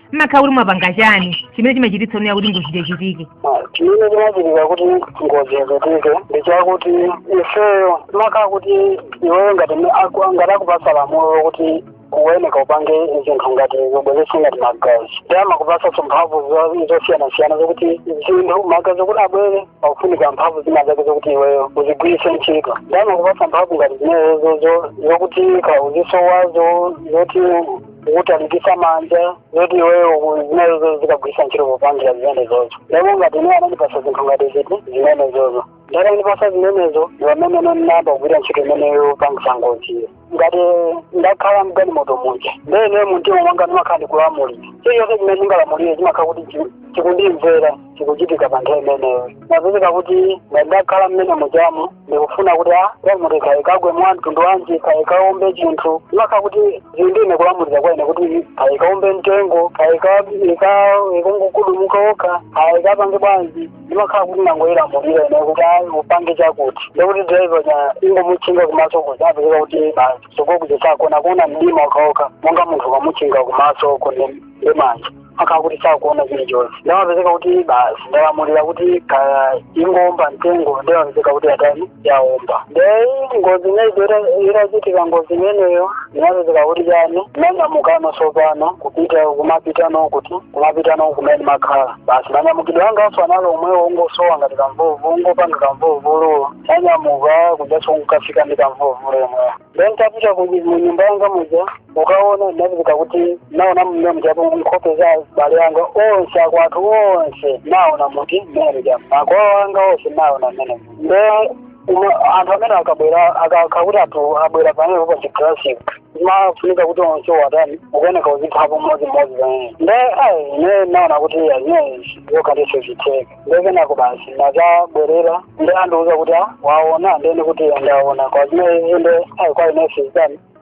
mmakhala kuti mwapanga chani chimene chimachititsa ineyo kuti ngozi ichitike chimene chimachitika kuti ngozi ichitike ndi chakuti ifeyo imakhala kuti iweyo ngati me- aku- ngati akupasa lamulo lokuti ukuyeneka upange zinthu ngati zobweresa ngati magazi nde amakupasaso mphamvu zo- zosiyanasiyana zokuti zinthu magazi okuti abwere pakufunika mphamvu zina zake zokuti iweyo uzigwiritse ntchito nde amakupasa mphamvu ngati zimenezo zo- zokuti kaya uzisowa zo- zoti kutalikisa manja zoti iweyo zimenezo uzikagwirisa ntchito popangira zimenezozo ndipo ngati ineyo anandipasa zinthu ngati ziti zimenezozo nde atandipasa zimenezo ndi pamene ndinayamba kugwira ntchito imeneyo yopangisa ngoziyo ngati ndakhala mgalimoto muja nde ine muntima mwanga ndimakhala ndikulamulira chilichonse chimene ndingalamulire chimakhala kuti chi- chikundimvera chikuchitika pa nthawi imeneyo imapezeka kuti ndakhala mmene mujamu ndikufuna kuti a galimoto kaya ikagwe mwa mtundu wanji kaya ikaombe chinthu imakhala kuti zili ndi ine kulamulira kwa ine kuti kaya ikaombe mtengo kaya ikangogudumuka yokha kaya ikapange bwanji ndimakhala kuti nangoyilamulira ine kuti ayi upange chakuti ndekuti driver uja ndangomutchinga kumaso kuja amapezeka kuti basi kutsogolo kuja sakona akuona mdima okhaokha monga munthu ukamutchinga kumaso kone ndi manja amakhala kuti sakuona chili chonse nde imapezeka kuti basi ndalamulira kuti kaya ingoomba mtengo ndimapezeka kuti yatani yaomba nde ngozi imeneyo itachitika ngozi imeneyo ndinapezeka kuti chani ndinanyamukano tsopano kupita kumapita kuti kumapitano kumene ndimakhala basi manyamukidwe angaso anali omwewo kungosowa ngati kamvuvu kungopanga kamvuvuluwo nanyamuka kujaso nkafika ndi kamvuvulu omwewo ndentapita mu nyumba yanga muja ukaona ndinapezeka kuti naona mmene mujamo nkhope za abale anga onse akwathu onse naona muti mmene mujamo makolo anga onse naona mmene nde uma- anthu amene akabwera amakhala kuti anthu abwera pamene pa chiklasic zimafunika kuti onse uwatani ukuyeneka uziphapo mmodzimodzi pamene nde ayi ine naona kuti zimenezi kwa ine sizitheka nde kenako basi nazabwerera nde andiuza kuti a waona ndene kuti ndaona koma zimenezi nde ayi kwa ine sizitani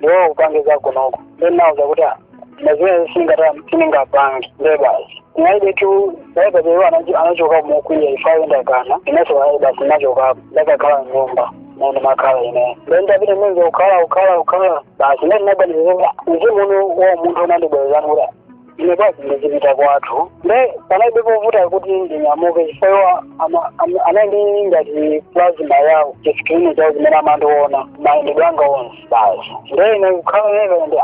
ndiwo upange zako konko ndinauza kuti "Ah, na zimene singata sindingapange nde basi naide tu naida beyo anachoka mokwiya ifayo ndakana inenso ayi basi nachokapo ndakakhala nyumba nene makhala ine ndenda vine mwenze ukhala ukhala ukhala basi nene naganiza kuti mzimu uno wa munthu unandibwezani kuti ine basi ndizipita kwathu nde panalibe povuta kuti ndinyamuke chifukwa ama- ama- anali ndi ngati plasma yawo chisikilini chawo zimene amandiona mayendedwe anga onse basi nde ine kukhala nene ndi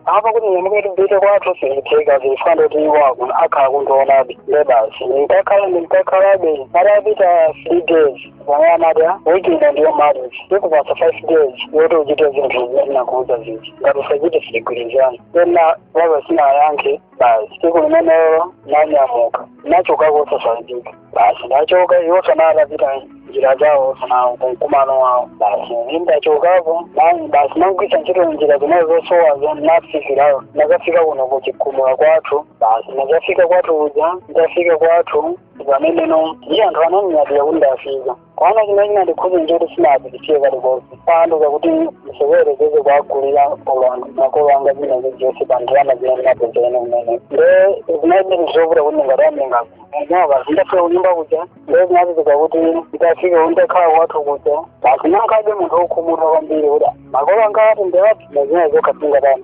apa kuti ndinyamuke ndipite kwathu sizitheka zifana ndoti iwo akhala akundionabe nde basi ndinkakhalabe ndinkakhalabe patapita three days wayamada weekend ndiyo marriage ndikupasa five days yoti uchite zinthu zinakuuza zija ngati usachite sitigwirizana tena wamva sinayankhe basi siku limenelo nanyamuka nachokako osasanzika basi ndachoka iwo sanalapita njira zawo sana kumkumano wawo basi ine ndachokapo basi nagwiritsa ntchito njira zimene zosowazo nafikirayo nakafika kuno kuchikumula kwathu basi nakafika kwathu kuja ndafika kwathu pamenepo ndi anthu anandinyadira kuti ndafika komano chimene chinandikhudza nchoti sinapitikiye kalikonse paanduka kuti ndisewerekeze kuwagulira ulonda makolo anga china chilichonse pa ndalama zimene ndinapezerene kumene nde zinalibe ndi zovuta kuti ndingatani ngakhale ndafika kunyumba kuja nde zinapezeka kuti nditafika ndakhala kwathu kuja basi ndinakhalabe munthu wokhumudwa kwambiri kuti makolo anga ati ndewati nezina zokha singatani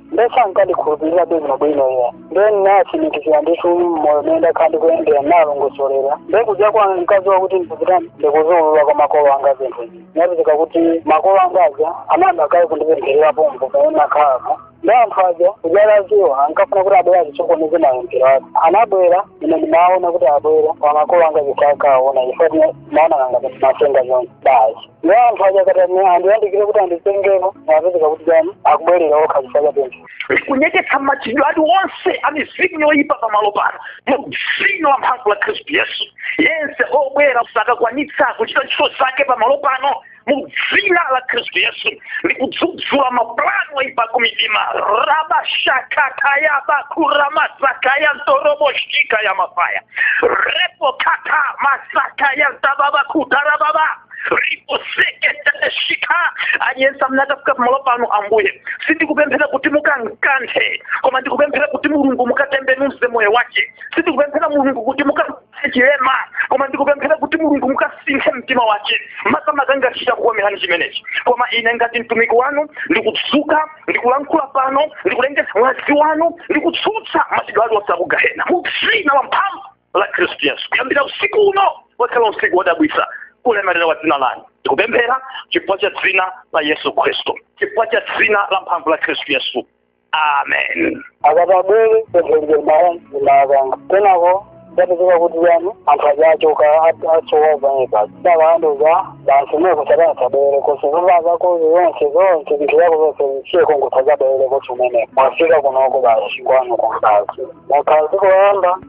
nde sankandikhulupirira bwino bwino iwo nde ndinatsimikizira ndithu moyo mene ndakhala ndikuyendera ndinalongosolera nde kuja ankadziwa kuti ndikutani ndikuziulula kwa makolo anga zinthu izi ndinapezeka kuti makolo anga aja anayamba kale kundipempherera pompo pamene nakhalako nde anthu aja kuja adziwa ankafuna kuti abwere adzasokoneze mapemphero aja anabwera ine ndimaona kuti abwera kwa makolo anga aja sankaona ifo maona kanga kuti matenga zonse basi nde anthu aja akati ame- andiyandikire kuti anditengeko apezeka kuti chani akubwerera okha chifukwa cha pemphero kunyeketsa machitidwe ali onse amizimu yoyipa pamalo pano mu dzina la mphamvu la khristu yesu yense obwera sakakwanitsa kuchita ntchito zake pamalo pano mu dzina la khristu yesu ndikudzudzula mapulani oipa akumidima rabashakatayabakuramazakaya ntoroboshika ya mafaya repokata masakaya ntababakutarababa riposeketeshika aliyense amene akafika pamalo pano ambuye sindikupemphera kuti mukankanthe koma ndikupemphera kuti mulungu mukatembenuze moyo wake sindikupemphera mulungu kuti muka chilema koma ndikupemphera kuti mulungu mukasinthe mtima wace makamaka ngati chitakukomerani chimenechi koma ine ngati mtumiki wanu ndikudzuka ndikulankhula pano ndikulengeza mwazi wanu ndikutsutsa machitidwe ali onse akugahena mu dzina la mphamvu la khristu yesu kuyambira usiku uno ukhala usiku wodabwitsa kulemerera wa dzina lanu ndikupemphera chifukwa cha dzina la yesu khristu chifukwa cha dzina la mphamvu la khristu yesu amen atandipempherera amayi akanga kenako napezeka kuti yani anthu aja achoka asowa pomwepa ndiye akundiuza basi kumeneko usadzabwerekonso zovala zako zonse zonse zinthu zako zonse zisiye konko usadzabwerekonso mmene mwafika kunoko basi kwanu konko basi mukaziko yamba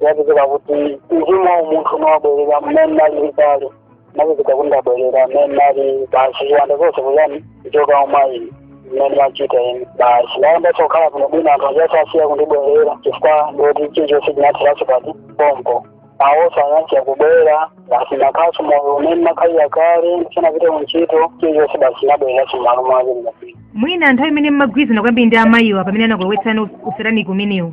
yapezeka kuti mzimu wa umunthu unawabwerera mmene alili kale napezeka kuti ndabwerera mmene ali basi ziwanda zonse kuyani kuchoka umayi mmene achita ine basi nayambanso kukhala kuno bwino anthu aja asiya kundibwerera chifukwa ndoti chilichonse chinatheranso pati pompo awoso anasiya kubwera basi nakhalanso moyo umene nakhalira kale ndisanapite kuntchito chilichonse basi nabwereranso mmalo mwake ndinapita mwina nthawi imene mmagwirizana kwambiri ndi amayiwa pamene anakulowetsani usataniki umenewu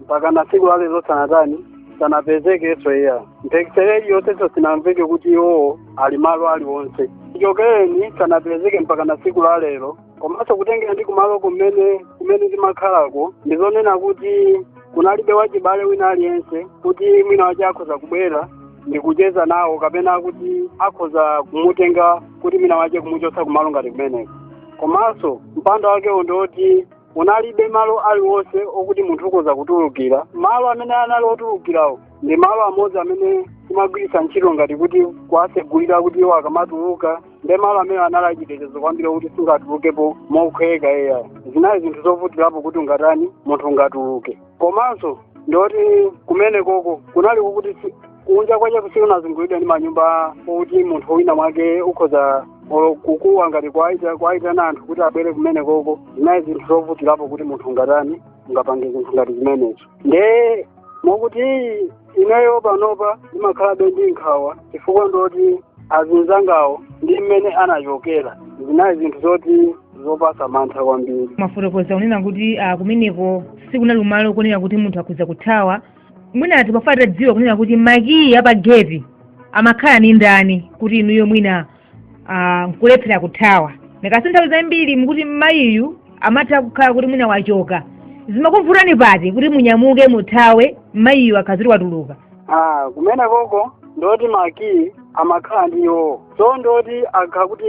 mpaka na tsiku la lero sanatani sanapezekenso iya mphekesera iliyonsenso sinamveke kuti iwowo ali malo aliwonse chichokereni sanapezeke mpaka na tsiku la lero komanso kutengera ndi kumalo kumene kumene ndimakhalako ndizonena kuti kunalibe wachibale wina aliyense kuti mwina wache akhoza kubwera ndikucheza nawo kapena kuti akhoza kumutenga kuti mwina wache kumuchotsa kumalo ngati kumeneko komanso mpando wakewo ndiwoti munalibe malo aliwonse okuti munthu ukhoza kutulukira malo amene anali otulukirawo ndi malo amodzi amene timagwiritsa ntchito ngati kuti kuwasegulira kuti iwo akamatuluka ndi malo amene anali achitetezo kwambiri okuti sungatulukepo mokhweka eya zinali zinthu zovutirapo kuti ungatani munthu ungatuluke komanso ndoti kumene koko kunali kokuti si- kunja kwache kusikunazungulidwa ndi manyumba okuti munthu wina mwake ukhoza olo kukuwa ngati kwaita- kwaitana anthu kuti abwere kumene koko zinali zinthu zovutirapo kuti munthu ungatani ungapange zinthu ngati zimenezo nde mokuti ineyo panopa ndimakhalabe ndi nkhawa chifukwa ndoti azinzangawo ndi mmene anachokera zinali zinthu zoti zopasa mantha kwambiri mwafotokoza kunena kuti ah, kumeneko sikunali kumalo konena kuti munthu akhoza kuthawa mwina timafuna titadziwa kunena kuti makiyi apa geti amakhala ni ndani kuti inuyo mwina ah, nkulephera kuthawa ndikasi nthawi zambiri mukuti mayiyu amatha kukhala kuti mwina wachoka zimakuvutani pati kuti munyamuke muthawe mayiyu akakhala kuti watuluka Ah, kumene koko ndoti makiyi amakhala ndi iwowo so ndoti akakhala kuti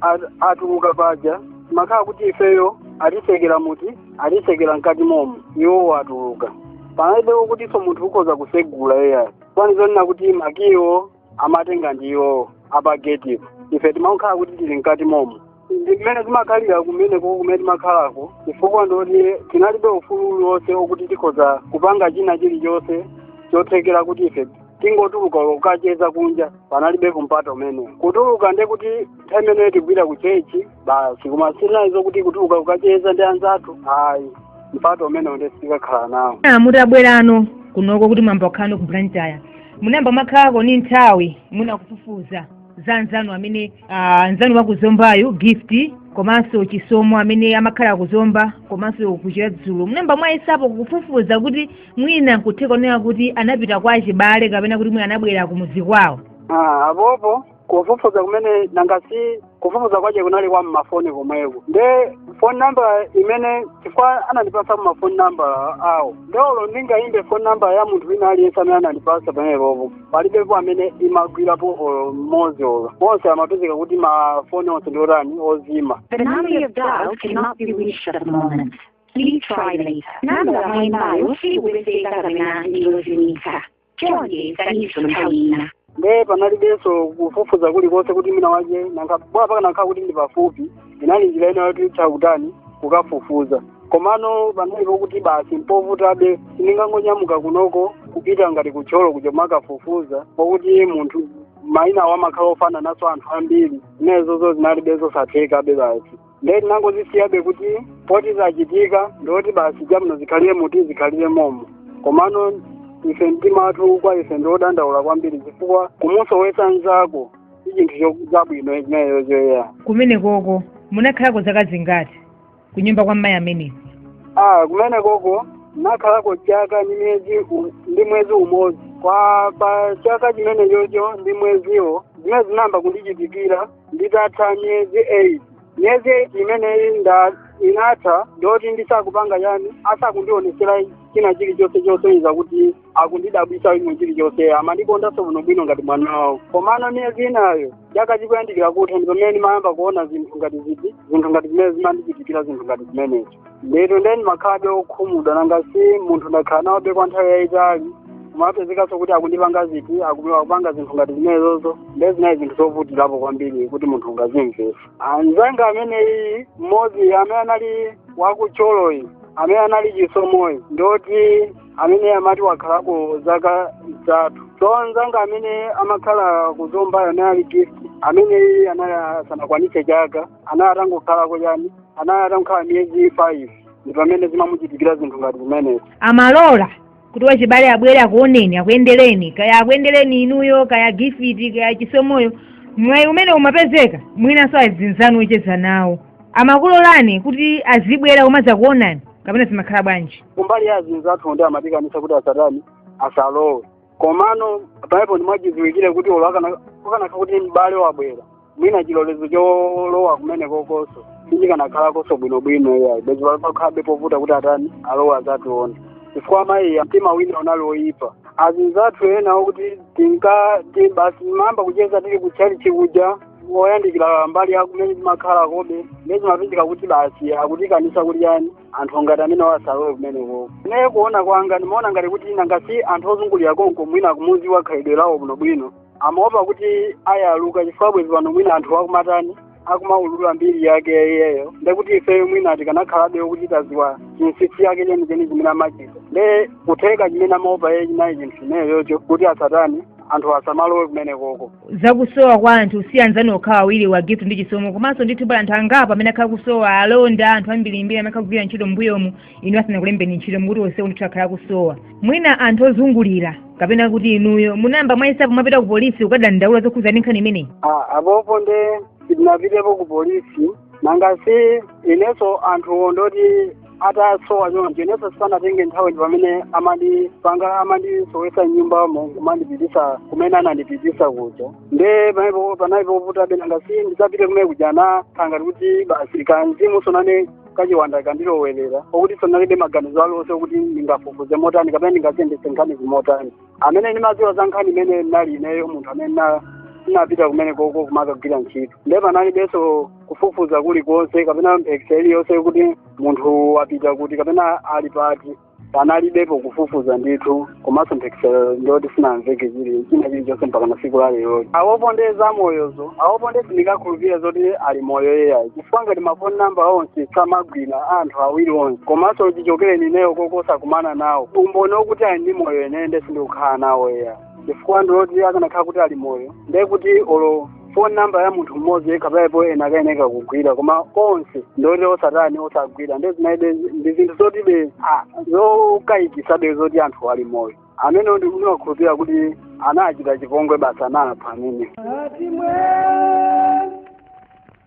at- atuluka paja amakhala kuti ifeyo atisekera muti atisekera mkati momo iwowo atuluka panalibe kutinso munthu ukhoza kusegula eya kwani zonena kuti makiyiwo amatenga ndi iwowo apagetipo ife timakhala kuti tili mkati momo ndi mmene timakhalira kumenekoko mmene timakhalako chifukwa ndoti tinalibe ufulu uliwonse okuti tikhoza kupanga china chilichonse chothekera kuti ife tingotuluka kukacheza kunja panalibeko mpata umenewo kutuluka ndekuti nthawi imeneyo tikupita ku chechi basi koma sinali zokuti kutuluka kukacheza ndi anzathu ayi mpata umenewo nde sitinkakhala nawo Ah, mutabwerako kunoko kuti mwayamba kukhala no ku blantyre munayamba mwakhalako ndi nthawi mwina kufufuza za anzanu amene ah, anzanu wa ku Zombayu gift komanso chisomo amene amakhala kuzomba komanso ku Chiradzulu munayamba mwayesapo kufufuza kuti mwina nkutheka kuona kuti anapita kwa achibale kapena kuti mwina anabwera kumudzi kwawo Ah, apopo kufufuza kumene nanga si kufufuza kwake kunali kwa mmafoni komweko nde phone number imene chifukwa anandipatsa ma phone number awo nde olo ndingayimbe phone number ya munthu wina aliyense amene anandipatsa pamenepopo palibepo amene imagwirapo olo mmodzi olo onse amapezeka kuti mafoni onse ndi otani ozimitsa The number you have dialed cannot be reached at the moment. Please try later. Namba mwaimbayo sikupezeka kapena ndiyozimitsa. chonde yesaninso nthawi ina nde panalibenso kufufuza kulikonse kuti mwina mwake bola pakanakhala kuti ndi pafupi inali njira ina yoti tha kutani kukafufuza komano panalipo kuti basi mpovutabe sitingangonyamuka kunoko kupita ngati ku Thyolo kuja mukafufuza pokuti munthu maina awo amakhala ofanananso anthu ambiri zimenezozo zinalibenso zosathekabe basi ndiye tinangozisiyabe kuti poti zachitika ndoti basi chabwino zikhalire mmuti zikhalire momo komano ife mtima wathu kwa ife ndiodandaula kwambiri chifukwa kumusowa nzako si chinthu cho- chabwino chimenechocho eya kumene koko munakhalako zaka zingati ku nyumba kwa mayi ameneyo ah kumene koko nakhalako chaka ndi mwezi u- ndi mwezi umodzi koma pa chaka chimenechocho ndi mweziwo zimene zinayamba kundichitikira itatha miyezi 8 miyezi 8 imeneyi nde inatha ndoti ndisakupanga chani asakundionesera china chilichonse chosonyeza kuti akundidabwitsa ine chilichonse amandikondanso bwino bwino ngati mwana wawo komano miyezi inayo chaka chikuyandikira kutha ndi pamene ndimayamba kuona zinthu ngati ziti zinthu ngati zimene zimandichitikira zinthu ngati zimenezi ndithu nde ndimakhalabe okhumudwa nanga si munthu ndakhala nawobe kwa nthawi yayitali kumapezekanso kuti akundipanga ziti aku- akupanga zinthu ngati zimenezozo nde zinali zinthu zovutirapo kwambiri kuti munthu ungazimvese anzanga ameneyi mmodzi amene anali waku Thyoloyi amene anali chisomoyi ndoti amene amati wakhalako zaka zitatu so anzanga amene amakhala kuzombayo anali gift amene anali asanakwanise chaka anali atangokhalako chani anali atangokhala miyezi five ndi pamene zimamuchitikira zinthu ngati zimenezo amalola kuti wachibale abwere akuoneni akuyendereni kaya akuyendereni inuyo kaya gifiti kaya chisomoyo mwayi umene umapezeka mwinanso azinzanu ocheza nawo amakulolani kuti azibwera kumazakuonani kapena zimakhala bwanji kumbali ya azinzathu nde amatikaniza kuti asatani asalowe komano paliponi mwachidziwikire kuti olo akanakha kuti m'bale wabwera mwina chilolezo cholowa kumene kokoso sichikanakhalakonso bwinobwino iyayi bwezi pakhabe povuta kuti atani alowe azatione chifukwa amayiwa mtima wawo unali woyipa azinzathu ena okuti tinka ti- basi timayamba kucheza tili kutchalichi kuja woyandikira mbali yakumene timakhalakobe nde zimapezeka kuti basi akutikaniza kuti chani anthu ngati amenewa asalowe kumeneko ne kuona kwanga ndimaona ngati kuti nanga si anthu ozungulira konko mwina akumuziwa khalidwe lawo bwinobwino amaopa kuti ayaluka chifukwa bwezi pano mwina anthu akumatani akumaulula mbiri yake iyeyo ndekuti ifeyo mwina tikanakhalabe kuti taziwa chinsisi yake chenicheni chimene amachita nde kutheka chimene amaopa iye chinali chinthu chimeneyocho kuti asatani anthu asamalowe kumene koko zakusowa kwa anthu si anzanu okhawa awiri wa gift ndi chisomo komanso ndithu pali anthu angapo amene akhala kusowa alonda anthu ambirimbiri amene akhala kugwira ntchito mbuyomu inuyo asanakulembeni ntchito mukuti onsewo ndithu akhala kusowa mwina anthu ozungulira kapena kuti inuyo munayamba mwayesapo mwapita ku polisi kukadandaula zokhudza ndi nkhani imeneyi apopo nde sitinapitepo ku polisi nanga si inenso anthu ndoti atasowa choncho inenso sipanatenge nthawi ndi pamene amandisowesa mnyumba kumandipitisa kumene anandipitisa kuja nde panali povutabe nanga si ndisanapite kumene kuja zinakhangati kuti basi kamzimu soinane kachiwanda kandilowerera okuti sindinalibe maganizo alionse okuti ndingafufuze motani kapena ndingaziyendese nkhanizi motani amene ndimadziwa za nkhani imeneyi ndinali ineyo munthu amene na- ndinapita kumene koko kumakagwira ntchito ndiye panalibenso kufufuza kulikonse kapena mphekesera iliyonse kuti munthu wapita kuti kapena ali pati panalibepo kufufuza ndithu komanso mphekesera ndiyoti sinamveke chili chi- china chilichonse mpaka tsiku la lero apopo nde zamoyozo apopo nde sindingakhulupirire zoti ali moyo yeyayi ngati ma phone number onse samagwira anthu awiri onse komanso chichokereni ineyo koko osakumana nawo umboni okuti ali ndi moyo ine nde sindikukhala nawo eya chifukwa ndi zoti akanakhala kuti ali moyo nde kuti olo phone number ya munthu mmodzi yekha payipo inakayeneka kugwira koma onse ndi woti osatani osagwira nde zinalibe ndi zinthu zotibe ah, zokayikisabe zoti anthu ali moyo amenewo ndikukhulupira kuti anawachita chipongwe basi anawapha amene Ati mwe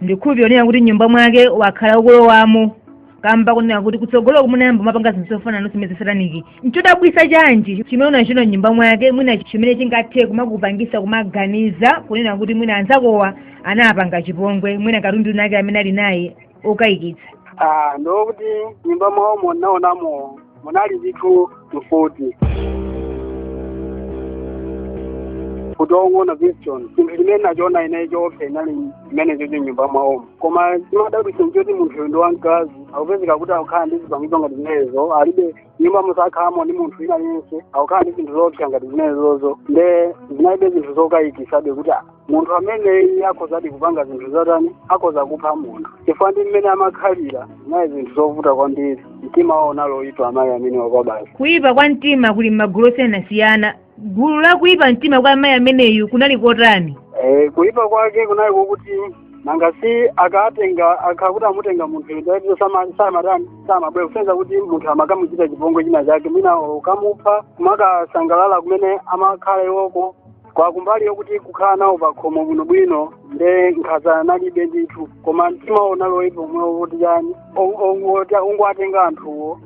ndikhulupira kunena kuti mnyumba mwake wakhala ukulowamo kamba kunena kuti kutsogoloku munayamba mwapanga zinthu zofanana ndi zimenezi za sataniki nchodabwisa chanji chimene unachiona mnyumba mwake mwina chimene chingathe kumakupangisa kumaganiza kunena kuti mwina anzakowa anawapanga chipongwe mwina katundu winake amene ali naye okayikitsa Ah, ndi okuti mnyumba mwawomo ndinaonamo munali zinthu mfuti kuti ongoona pistol chinthu chimene nachiona ine choopsa inali imeneyo chocho mnyumba mwawomo koma chimadabwitsa nchoti munthuyo ndi wamkazi akupezeka kuti akukhala ndi zipangizo ngati zimenezo alibe nyumbamo sakhalamo ndi munthu wina yense akukhala ndi zinthu zoopsa ngati zimenezozo nde zinalibe zinthu zokayikisabe kuti ah, munthu ameneyu akhozadi kupanga zinthu zotani akhoza kupha munthu chifukwa ndi mmene amakhalira zinali zinthu zovuta kwambiri mtima wawo unali woyipa amayi amenewo Kwabasi kuyipa kwa mtima kuli m'magulu osiyanasiyana gulu la kuyipa mtima kwa amayi ameneyu kunali kotani Eh, kuyipa kwake kunali kokuti nanga si akatenga akakhala kuti amutenga munthu ndiye basi samatani samabwera kusonyeza kuti munthu amakamuchita chipongwe china chake mwina kukamupha kumakasangalala kumene amakhala iwoko kwa kumbali yokuti kukhala nawo pakhomo bwinobwino nde nkhaza analibe ndithu koma mtima unali woipa omwe wokuti chani kungowatenga anthuwo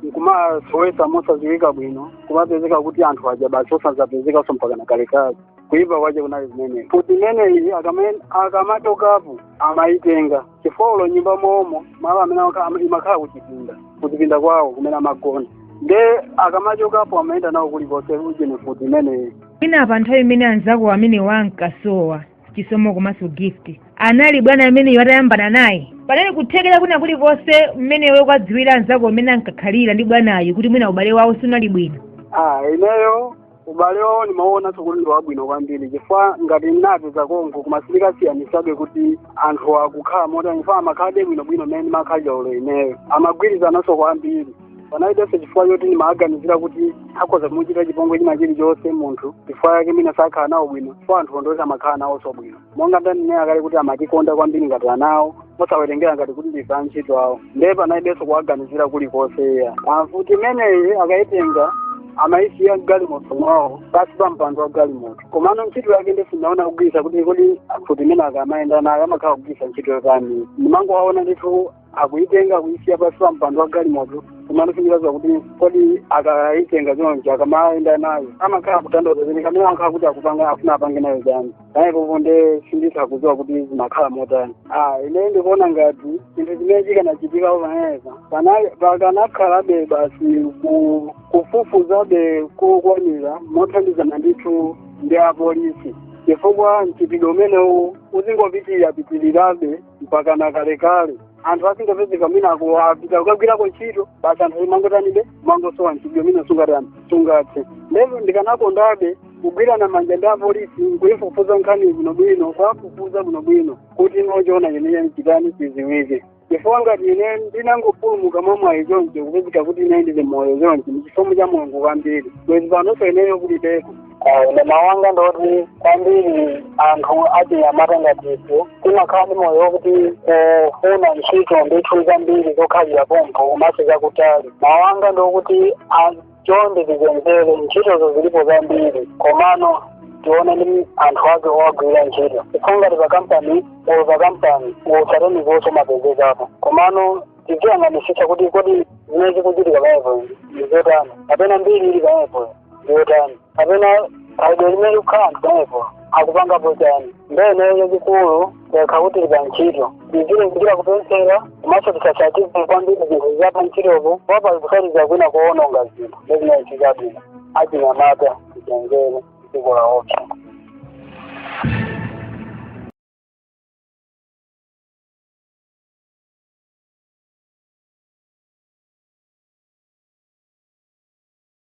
nkumawasowetsa mosadziwika bwino kumapezeka kuti anthu aja basi osazapezekanso mpaka na kalekale kuipa kwace kunali zimenezo mfuti imeneyi akama- akamachokapo amayitenga chifukwa olo mnyumba momo malo amene aka- ama- imakhala kuchipinda kuchipinda kwawo kumene amagona nde akamachokapo amayenda nayo kulikonse ujeni mfuti imeneyi mwina pa nthawi imene anzako amenewa ankasowa chisomo komanso gift anali bwanayo ameneyo atayambana naye panali kuthekera kwina kulikonse mmene ukuwadziwira anzako amene ankakhalira ndi bwanayo kuti mwina ubale wawo siunali bwino ah ineyo ubale wawo ndimaonanso kuti ndi wabwino kwambiri chifukwa ngati ndinapeza konko koma sindinkasiyanitsabe kuti anthu akukhala motani chifukwa amakhalabe bwinobwino mmene ndimakhalira olo ineyo amagwirizananso kwambiri panalibenso chifukwa choti ndimawaganizira kuti akhoza kumuchita chipongwe china chilichonse munthu chifukwa chake mwina sakhala nawo bwino chifukwa anthu wo ndi oti amakhala nawonso bwino monga ndanena kale kuti amatikonda kwambiri ngati anawo mosawerengera ngati kuti ndife antchito awo ndiye panalibenso kuwaganizira kulikonse iya mfuti imeneyi akayitenga amayisiya mgalimoto mwawo pansi pa mpando wa galimoto komano ntchito yake nde sindinaone akugwiritsa kuti kodi mfuti imene akamayenda nayo amakhala akugwiritsa ntchito yotani ndimangowaona ndithu akuitenga kuisiya pansi pa mpando wa galimoto komano sinditha kuziwa kuti kodi akaitenga choncho akamaenda nayo amakhala akutanthauza zeni kumene amakhala kuti akupanga afuna apange nayo chani panopo nde sinditha kuziwa kuti zimakhala motani ah ine ndikuona ngati chinthu chimene chikanachitika pamenepa pakanakhalabe basi ku- kufufuzabe kokwanira mothandizana ndithu ndi apolisi chifukwa mchitidwe umenewu uzingopitira pitirirabe mpaka na kalekale anthu azingopezeka mwina apita kukagwirako ntchito basi anthu kumangotanibe kumangosowa mchitidwe umene sungatani sungathe ndipo ndikanakondabe kugwirana manja ndi apolisi nkuyifufuza nkhani bwinobwino kuwafufuza bwinobwino kuti choona chenicheni chitani chiziwike chifukwa ngati ine ndinangopulumuka mwamwayi choncho kupezeka kuti ine ndili moyo choncho ndi chisomo cha mulungu kwambiri bwezi panonso ineyo kulibeko Ah, ine mawu anga ndoti kwambiri anthu achinyamata ngati ife timakhala ndi moyo wokuti kufuna ntchito ndithu zambiri zokhalira pompo makamaka zakutali mawu anga ndiokuti chonde tisatengeke ntchitozo zilipo zambiri komano tione ndi anthu ake owagwira ntchito chifukwa ngati pa kampani or pa kampani wosateni zonse zimapezekapo komano tiziyang'anisisa kuti kodi zimene zikuchitika pamenepo ndizotani kapena mbiri ili pamenepo ndiyotani kapena khalidwe limene likukhala pamenepo akupangapo chani nde ineyo chachikulu tikakhala kuti tili pa ntchito tizilimbikira kupemphera komanso tisatsatize kwambiri zinthu zapa ntchitopo wapa kutsatiza kwina kuononga zinthu nde zinachitika achinyamata tichenjere dziko laopsa